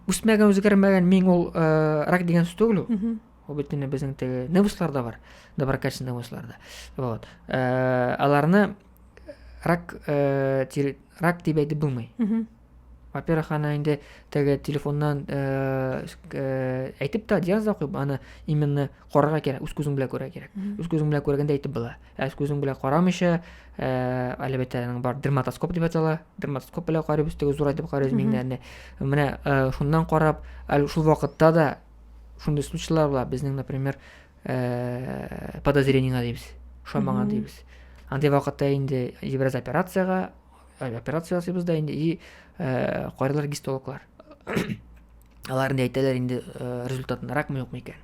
үсмәгән, үзгәрмәгән миң ул э, рак дигән сүз түгел ул. Ул бит инде безнең теге невусларда бар, доброкачественный невусларда. Вот. Э, аларны рак, э, тир, рак дип әйтеп булмый. Во-первых, аны инде теге телефоннан әйтеп та диагноз да куеп, аны именно карарга кирәк, үз күзең белән күрә кирәк. Үз күзең белән күргәндә әйтеп була. Ә үз күзең белән карамыйча, әлбәттә, аның бар дерматоскоп дип атала. Дерматоскоп белән карыйбыз, теге зур итеп карыйбыз миңнәрне. Менә шуннан карап, әле шул вакытта да шундый случайлар була. Безнең, например, подозрениеңә дибез. Шамаңа дибез. Андый вакытта инде ибраз операциягә Э, операция ясыйбыз да инде и э, карыйлар гистологлар алар инде әйтәләр инде э, результатын ракмы юкмы икән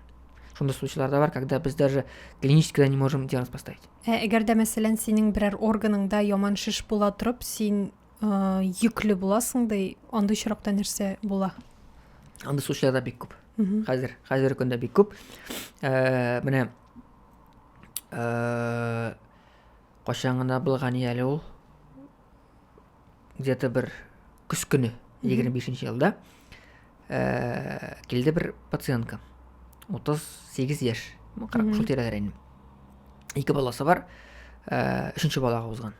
шундый случайлар да бар когда без даже клинически не можем диагноз поставить ә әгәр дә мәсәлән синең берәр органыңда яман шеш була торып син йөкле буласың ди андый очракта нәрсә була андый случайлар да бик күп хәзер хәзер көндә бик күп менә Кайчан гына булган ие әле ул? Где-то бер көз көне, 25-нче елда, э, килде бер пациентка. 38 яшь, ну, шул тирәләр инде. Ике баласы бар, э, өченче балага узган.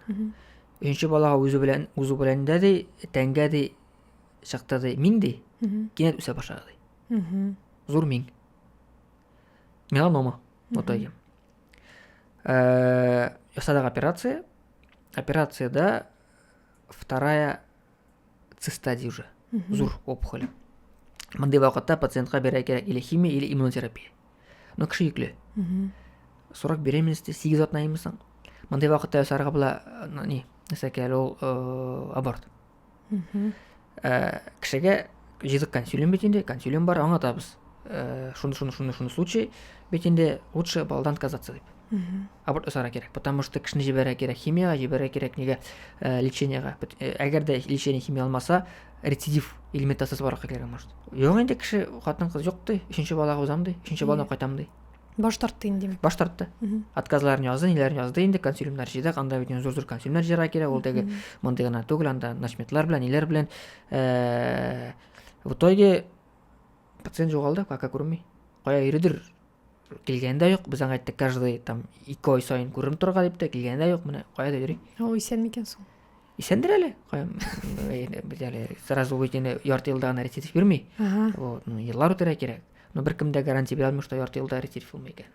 Өченче балага үзе белән, үзе белән дә ди, тәнгә ди, чакта ди, мин ди, кинәт үсә башлады ди. Зур мин. Меланома, вот Э, ясадык операция. Операциядә вторая циста ди уже. Зур опухоль. Мондый вакытта пациентка бирә кирәк или химия, или иммунотерапия. Но кеше йөкле. Срок беременности 8 атна имисең. Мондый вакытта ясарга була, э, ни, нәрсә кирәк, ул э, аборт. ә, кешегә җыйдык консилиум бит инде консилиум бар аңлатабыз ә, шуны шуны шуны шуны случай бит инде лучше балдан отказаться дип аборт жасарга кирәк потому что кешене җибәрә кирәк химияга җибәрә кирәк нигә ә, лечениега э, әгәр дә лечение химия алмаса рецидив или метастаз барлыкка килергә может юк инде кеше хатын кыз юк ди өченче балага узам ди өченче баланы кайтам ди баш тартты инде баш тартты отказларын язды ниләрен язды инде консилиумнар җыйдык анда бит зур зур консилиумнар җыярга кирәк ул теге мондый гына түгел анда начметлар белән ниләр белән э, в итоге пациент жоғалды кака күренмей кая йөридер килгәне дә юк без аңа айттык каждый там ике ай сайын күренеп торырга дип тә килгәне дә юк менә каяда йөри ул исән микән соң исәндер әле без әле сразу үзеңне ярты елда гына рецидив бирми вот ну еллар үтәргә кирәк но беркем дә гарантия бирә алмый что ярты елда рецидив булмый икән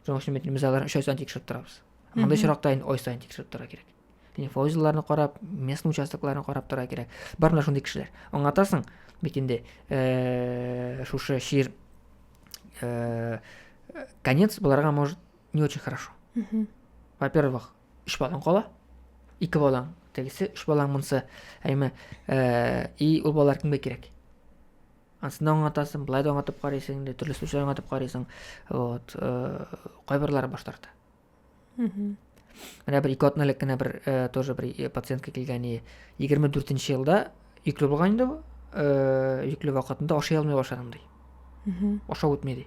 шуның өчен без аларны өч ай сайын тикшереп торабыз анда очракта инде ай сайын тикшереп торырга кирәк инфоузелларны карап местный участокларны карап торырга кирәк бар менә шундый кешеләр аңлатасың бит инде э, шушы чир э, конец боларга может не очень хорошо во первых өч балаң кала ике балаң тегесе өч балаң монысы әйме э, и ул балалар кемгә кирәк ансында аңлатасың былай да аңлатып карыйсың инде төрле случай аңлатып карыйсың вот э, кайберлары баш тарта менә бер ике атна элек кенә бер э, тоже бер э, пациентка килгән егерме дүртенче елда йөкле булган инде ул йөкле вакытында ашый алмый башлаган ди ашау үтми ди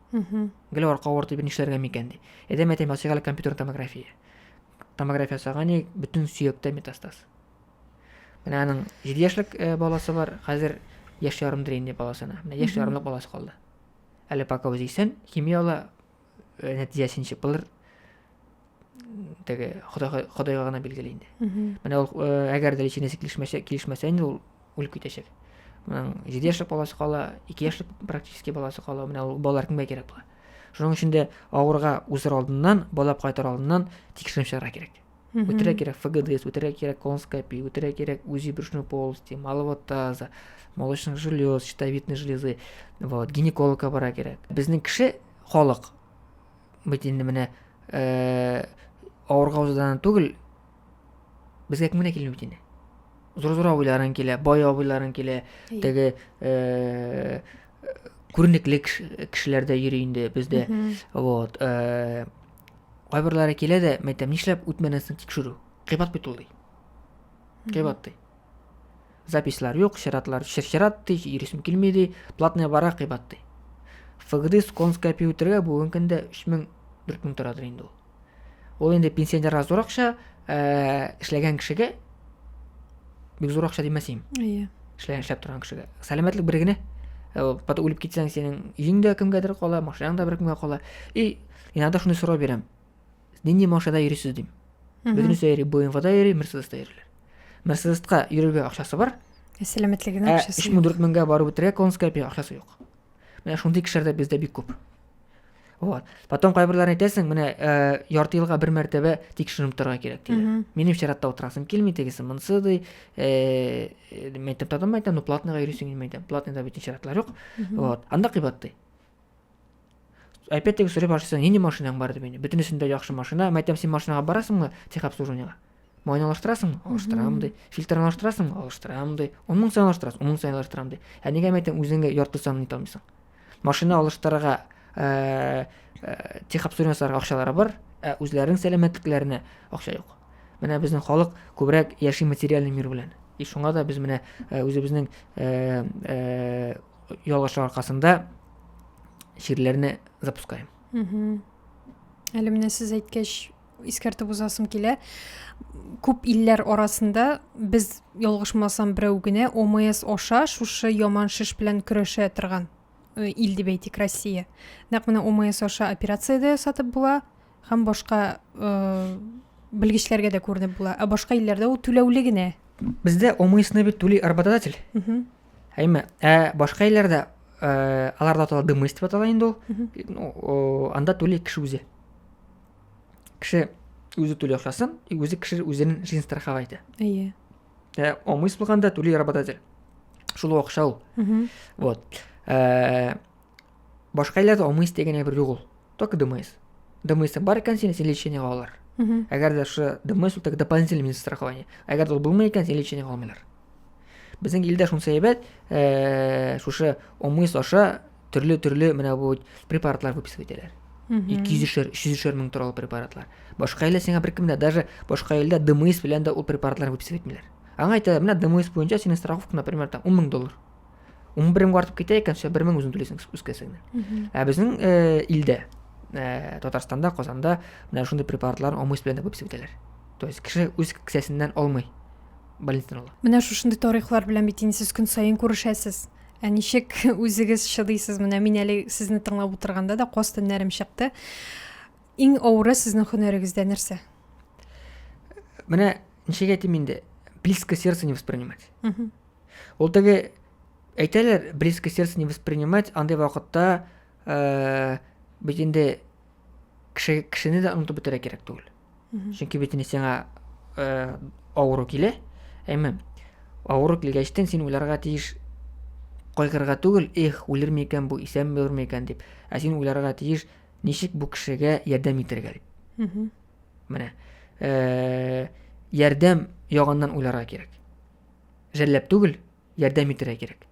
Гел арка авырты дип нишләргә микән ди. Әдәм әйтәм ясыйк әле компьютер томография. Томография ясаган ник бөтен сөяктә метастаз. Менә аның 7 яшьлек э, баласы бар, хәзер яшь ярымдыр инде баласына. Менә яшь ярымлык баласы калды. Әле пока үзе исән, химия ала, э, нәтиҗәсен чыпылыр. теге Ходай Ходайга гына билгеле инде. Менә ул э, әгәр дә личинәсе килешмәсә, килешмәсә инде ул үлеп китәчәк. Менә 7 яшьлек баласы кала, 2 яшьлек практически баласы кала, менә ул балалар кемгә кирәк була? Шуның өчен дә авырга узыр алдыннан, балап кайтыр алдыннан тикшеренеп чыгарга кирәк. Үтерә кирәк ФГДС, үтерә кирәк колоноскопия, үтерә кирәк УЗИ брюшной полости, малого таза, молочных желез, щитовидной железы, вот, гинекологка бара кирәк. Безнең кеше халык бит инде менә э, авырга узадан түгел безгә кем генә килми бит инде зур зур абыйларың килә бай абыйларың килә теге э, күренекле кешеләр дә йөри инде бездә вот э, кайберләре килә дә мәйтәм нишләп үтмәдең соң тикшерү кыйбат бит ул ди кыйбат ди Записьлар юк, чиратлар чирчират ди, йөрисем килми ди, платная бара кыйбат ди. ФГДИС конская пиүтергә бүгенге көндә 3000 4000 торадыр инде ул. Ул инде пенсионерга зур акча, э, эшләгән кешегә бик зур акча димәс идем. Әйе. Эшләгән эшләп торган кешегә. Сәламәтлек бер генә. Э, Потом үлеп китсәң, синең өең дә кемгәдер кала, машинаң да бер кемгә кала. И иногда шуны сорау бирәм. нинди машинада йөрисез дим бөтенесе дә йөри бмвда йөри мерседеста йөриләр мерседеска йөрергә акчасы бар ә сәламәтлегенә ә акчасы өч мең дүрт меңгә барып үтәргә конская акчасы юк менә шундый кешеләр дә бездә бик күп вот потом кайберләрен әйтәсең менә ә, ярты елга бер мәртәбә тикшеренеп торырга кирәк диде минем чиратта утырасым килми тегесе монысы ди ә, мәйтәм тадым мәйтәм ну платныйга йөрисең килми мәйтәм платныйда бит чиратлар юк вот анда кыйбат ди Опять-таки сорый башлыйсың, нинди машинаң бар дип инде. Бөтенесен дә яхшы машина. Мә әйтәм, син машинага барасыңмы техобслуживаниегә? Майны алыштырасың, алыштырам ди. Фильтрны алыштырасың, алыштырам ди. Он мең саен алыштырасың, он мең саен алыштырам ди. Ә нигә мә әйтәм, үзеңгә ярты санын итә алмыйсың? Машина алыштырырга э, э, техобслуживаниесарга акчалары бар, ә үзләренең сәламәтлекләренә акча юк. Менә безнең халык күбрәк яши материальный мир белән. И шуңа да без менә э, үзебезнең э, э, ялгышлык аркасында чирләрне запускаем әле менә сез әйткәч искәртеп узасым килә күп илләр арасында без ялгышмасам берәү генә омс аша шушы яман шеш белән көрәшә торган э, ил дип әйтик россия нәкъ менә омс аша операция дә ясатып була һәм башка э, белгечләргә дә күренеп була ә башка илләрдә ул түләүле генә бездә омсны бит түли работодатель Әйме, ә башка илләрдә э, аларда атала дымыс дип атала инде ул. Ну, о, анда түли кеше үзе. Кеше үзе түли акчасын, и үзе кеше үзенең жизнь страховать итә. Әйе. Ә омыс булганда түли работодатель. Шул ук акча ул. Мгм. Вот. Э, Башка илләр дә алмый истә генә бер юк ул. Только ДМС. ДМС бар икән син, син лечениега алар. Әгәр дә шы ДМС ул так дополнительный минус страхование. Әгәр дә ул булмый икән, син лечениега алмыйлар. Безнең илдә шунсы әйбәт, э, шушы ОМС аша төрле-төрле менә бу препаратлар выписывать итәләр. 200-шер, 300-шер мең торалы препаратлар. Башка иллә сиңа бер кемдә, даже башка иллә ДМС белән дә ул препаратлар выписывать итмиләр. Аңа әйтәләр, менә ДМС буенча синең страховка, например, там 10 мең доллар. он бер меңгә артып китә икән бер мең үзең түләйсең үз кесәңнән ә безнең э, илдә э, татарстанда казанда менә шундый препаратларны омыс белән дә күп исәпләләр то есть кеше үз кесәсеннән алмый больницадан ала менә шушындый тарихлар белән бит инде сез көн саен күрешәсез ә ничек үзегез чыдыйсыз менә мин әле сезне тыңлап утырганда да каз төннәрем чыкты иң авыры сезнең һөнәрегездә нәрсә менә ничек әйтим инде близко сердце не воспринимать Ул теге әйтәләр, близко сердце не воспринимать, андый вакытта э, бит инде кеше, кешене дә онытып бетерә кирәк түгел. Чөнки бит инде сиңа э, авыру килә. Әмма авыру килгәчтен син уйларга тиеш кайгырга түгел, эх, үлерме икән бу, исәнме булырмы икән дип. Ә син уйларга тиеш, ничек бу кешегә ярдәм итәргә дип. Менә. Э, ярдәм ягыннан уйларга кирәк. жәлләп түгел, ярдәм итәргә кирәк.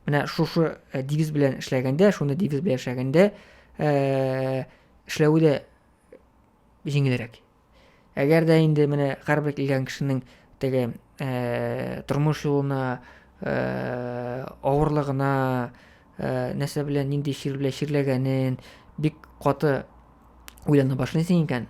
Менә шушы э, девиз белән эшләгәндә, шуны девиз белән эшләгәндә, э, эшләве дә җиңелрәк. Әгәр дә инде менә һәрбер килгән кешенең теге э, тормыш юлына, э, авырлыгына, э, нәрсә белән нинди чир белән чирләгәнен бик каты уйлана башлыйсың икән,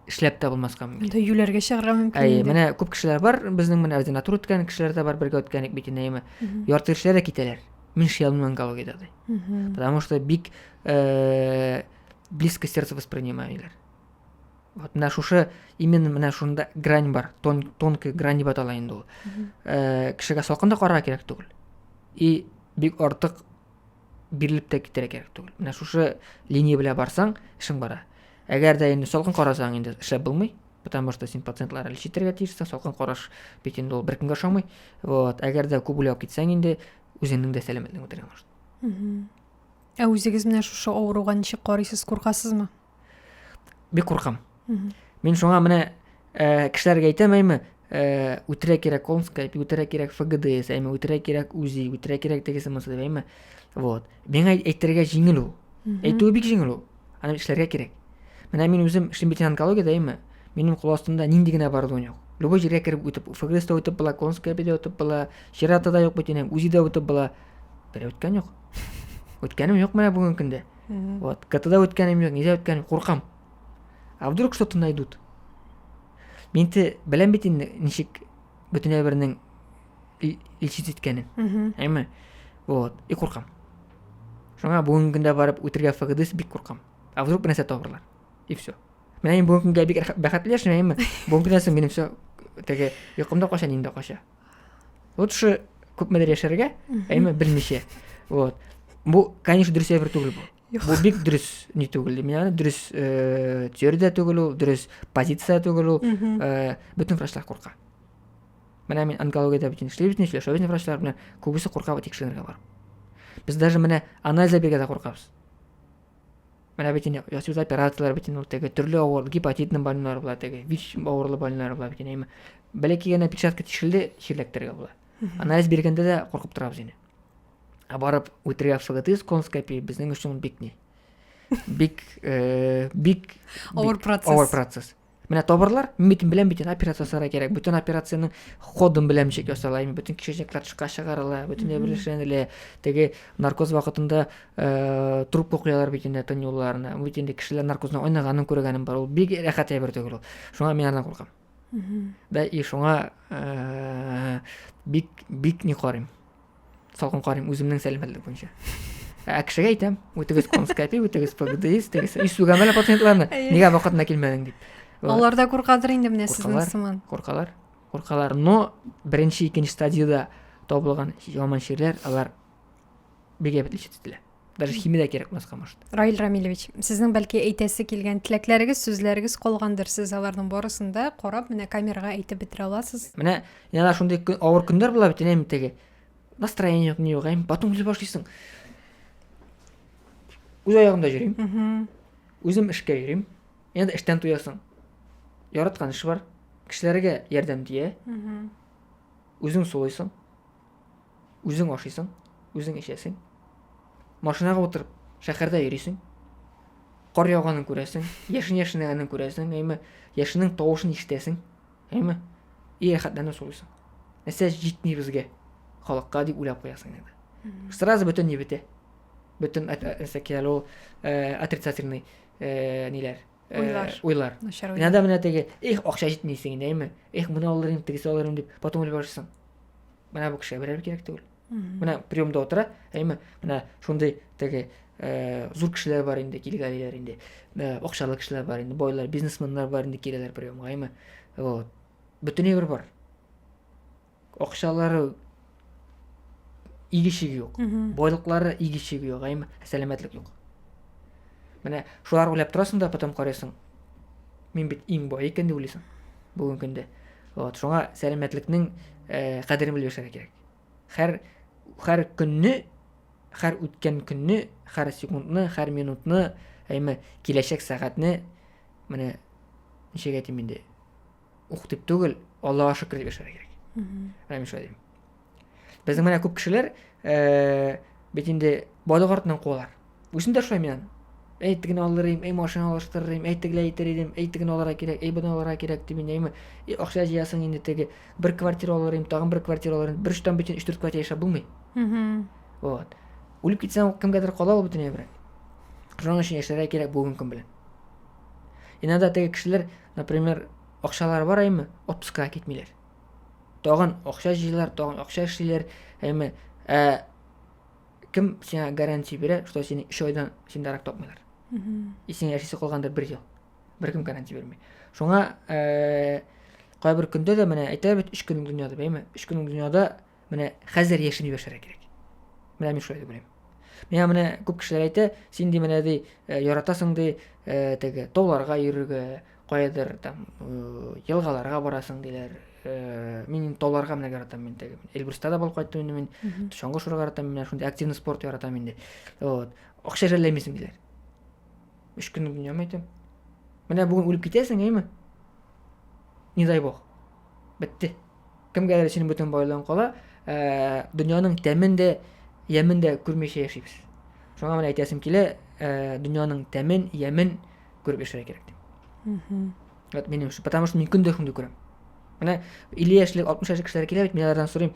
эшләп тә булмаска мөмкин. Монда юләргә чыгарга мөмкин. Әйе, менә күп кешеләр бар, безнең менә ординатура үткән кешеләр дә бар, бергә үткән бит инәеме. Ярты кешеләр дә китәләр. Мин шиялмын онкологиядә ди. Потому что бик э, близко сердце воспринимаемыйлар. Вот менә шушы именно менә шунда грань бар, тон, тонкая грань дип атала инде ул. Э, кешегә салкын да карарга кирәк түгел. И бик артык бирелеп тә китәргә кирәк түгел менә шушы линия белән барсаң эшең бара әгәр дә инде салкын карасаң инде эшләп булмый потому что син пациентлар әле читергә тиешсең салкын караш бит инде ул беркемгә ошамый вот әгәр дә күп уйлап китсәң инде үзеңнең дә сәламәтлегең бетерә может ә үзегез менә шушы авыруга ничек карыйсыз куркасызмы бик куркам мин шуңа менә ә, кешеләргә әйтәм әйме ә, үтерә кирәк конская әйме үтерә кирәк фгдс әйме үтерә кирәк узи үтерә кирәк тегесе монысы дип әйме вот миңа әйтергә җиңел ул әйтүе бик җиңел ул аны эшләргә кирәк менә мин үзем эшлим бит онкологиядә әйме минем кул астымда нинди генә оборудование юк любой җиргә кереп үтеп фгс та үтеп була конская да үтеп була чирата да юк бит инем узи да үтеп була берәү үткән юк үткәнем юк менә бүгенге көндә Угу. Вот. КТда үткәнем юк, нидә үткәнем, куркам. А вдруг что-то найдут? Мин те беләм бит инде ничек бөтен әйбернең илчит иткәнен. Әйме? Вот. И куркам. Шуңа бүгенге көндә барып үтергә фагыдыс бик куркам. А вдруг бернәрсә табарлар? И все. Менә мин бүгенге көнгә бик бәхетле яшим, әйме? Бүгенге көннән соң минем все теге йокымда кача, ниндә кача. вот шы күпмедер яшәргә әйме берничә вот бу конечно дөрес әйбер түгел бу бу бик дөрес не түгел мин аны дөрес э, теория түгел ул дөрес позиция түгел ул э, бөтен врачлар курка менә мин онкологиядә бөтен эшли бөтен сөйләшә бөтен врачлар белән күбесе курка тикшеренергә барып без даже менә анализлар бирергә дә куркабыз Менә бит инде ясыйбыз операцияләр бит инде ул теге төрле авыр гепатитның больнолары була теге, ВИЧ авырлы больнолары була бит инде. Бәләкәй кигәнә печатка тишелде, чирләктергә була. Анализ биргәндә дә куркып торабыз инде. Ә барып үтергә ФГТИС конскопия безнең өчен бик ни. Бик э, бик авыр процесс. Авыр процесс. Менә табырлар, мин бит беләм бит операция ясарга кирәк. Бөтен операциянең кодын беләм ничек ясала, ими бөтен кишечниклар тышка чыгарыла, бөтенләй белешенелә. Теге наркоз вакытында э, трубка куялар бит инде тынюларны. Бит инде кешеләр наркозны айнаганын күргәнем бар. Ул бик рәхәт әйбер түгел ул. Шуңа мин аннан куркам. Да и шуңа э, бик бик не карыйм. салкын карыйм үземнең сәламәтлек буенча ә кешегә әйтәм үтегез конскопи үтегез пгдис үтегез исүгәм әле пациентларны нигә вакытында килмәдең дип алар да куркадыр инде менә сезнең сыман куркалар куркалар но беренче икенче стадияда табылган яман чирләр алар бик әйбәт лечить ителә даже химия дә кирәк булмаска может раил рамилевич сезнең бәлки әйтәсе килгән теләкләрегез сүзләрегез калгандыр сез аларның барысын да карап менә камерага әйтеп бетерә аласыз менә иногда шундый авыр көннәр була бит әнә теге настроение юк ни юк әм потом үзе башлыйсың үз аягымда йөрим үзем эшкә йөрим иногда эштән туясың яраткан эш бар кешеләргә ярдәм тия үзең сулыйсың Үзең ашыйсың, үзең эчәсең. Машинага утырып, шәһәрдә йөрисең. Кар яуганын күрәсең, яшен яшенәгәнен күрәсең, әйме, яшенең тавышын ишетәсең, әйме, и рәхәтләнеп сулыйсың. Нәрсә җитми безгә, халыкка дип уйлап куясың инде. Сразу бөтен ни бетә. Бөтен нәрсә килә ул э, отрицательный э, ниләр, уйлар уйлар начар уйлар иногда менә теге эх акча җитми дисең инәйме эх моны алыр идем тегесе алыр идем дип потом уйлап барырсың менә бу кешегә берәр кирәк түгел менә приемда утыра әйме менә шундый теге э, зур кешеләр бар инде килгәлиләр инде э, акчалы кешеләр бар инде байлар бизнесменнар бар инде киләләр приемга әйме вот бөтен әйбер бар Акчалары игешеге юк. Байлыклары игешеге юк, әйме, сәламәтлек юк. Менә шулар уйлап торасың да, потом карыйсың. Мин бит иң бай икән дип уйлыйсың. Бүгенге көндә. Вот, шуңа сәламәтлекнең э, кадерен белеп яшәргә кирәк. Хәр хәр көнне, хәр үткән көнне, хәр секундны, хәр минутны, әйме, киләчәк сәгатьне менә ничек әйтим инде, ук дип түгел, Аллаһуга шөкер дип яшәргә кирәк. Менә мин шулай дим. Безнең менә күп кешеләр э, бит инде бадык артыннан куалар. Үзем дә шулай мин. Әй тегене алыр идем, әй машина алыштырыр идем, әй тегеләй итер идем, әй теге алырга кирәк, әй быны алырга кирәк дип инде И акча җыясың инде теге бер квартира алыр идем, тагын бер квартира алыр идем. Бер штамп бит 3-4 квартира яшәп булмый. Вот. Үлеп китсәң, кемгәдер кала ул бөтенләй бер. Шуның өчен яшәргә кирәк бүгенге көн белән. Иногда теге кешеләр например акчалары бар әйме отпускыга китмиләр тагын акча җыйлар тагын акча эшлиләр әйме ә кем сиңа гарантия бирә что сине өч айдан синдә рак тапмыйлар и сиңа яшисе калгандыр бер ел беркем гарантия бирми шуңа ә, кайбер көндә дә менә әйтәләр бит өч көнең дөньяда әйме өч көнең дөньяда Менә хәзер яшен югәшәргә кирәк. Менә мин шулай дип уйлыйм. Миңа менә күп кешеләр әйтә, син ди менә ди э, яратасың ди э, теге тауларга йөрергә, каядыр там э, елгаларга барасың диләр. Мин тауларга менә яратам мин теге. Эльбрусда да булып кайттым инде мин. Чаңгы шуруга яратам мин, шундый активный спорт яратам инде. Вот. Акча жәлләмисең диләр. Үч көн дөнья мәйтәм. Менә бүген үлеп китәсең, әйме? Не дай бог. Бетте. Кемгәдер өчен бөтен байлыгың кала, ә, дөньяның тәмен дә, ямен дә күрмичә яшибез. Шуңа менә әйтәсем килә, ә, дөньяның тәмен, ямен күреп яшәргә кирәк дип. Угу. Вот минем өчен, потому что мин көндә шундый күрәм. Менә 50 яшьлек, 60 яшьлек кешеләр килә бит, мин алардан сорыйм.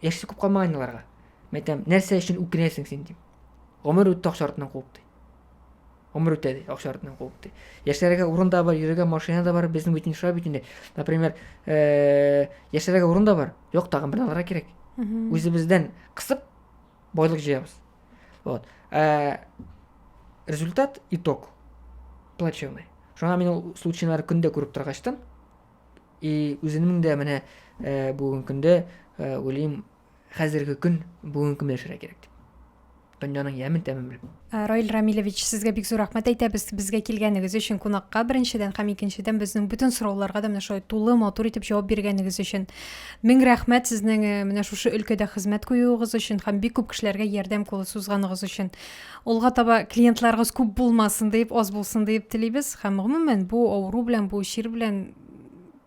Яшьсе күп калмаган аларга. Мен әйтәм, нәрсә өчен үкенәсең син дип. Гомер үтте акча артыннан куып ди. Гомер үтә, ди, акча артыннан куып, ди. Яшьләргә урын да бар, йөрергә машина да бар, безнең бит инде шулай бит инде. Например, э, яшьләргә урын да бар, юк, тагын бер алырга кирәк. Үзебездән кысып, байлык җыябыз. Вот. Ә результат, итог плачевный. Шуңа мин ул случайларны көндә күреп торгачтан, и үземнең дә менә э, бүгенге көндә э, уйлыйм, Хәзерге көн, бүгенге көн яшәргә кирәк дип. Дөньяның ямен тәмен белеп. Э, Раил Рамилевич, сезгә бик зур рәхмәт әйтәбез безгә килгәнегез өчен кунакка беренчедән һәм икенчедән безнең бөтен сорауларга да менә шулай тулы матур итеп җавап биргәнегез өчен. Мең рәхмәт сезнең э, менә шушы өлкәдә хезмәт куюыгыз өчен һәм бик күп кешеләргә ярдәм кулы сузганыгыз өчен. Алга таба клиентларыгыз күп булмасын дип, аз булсын дип телибез һәм гомумән бу авыру белән, бу чир белән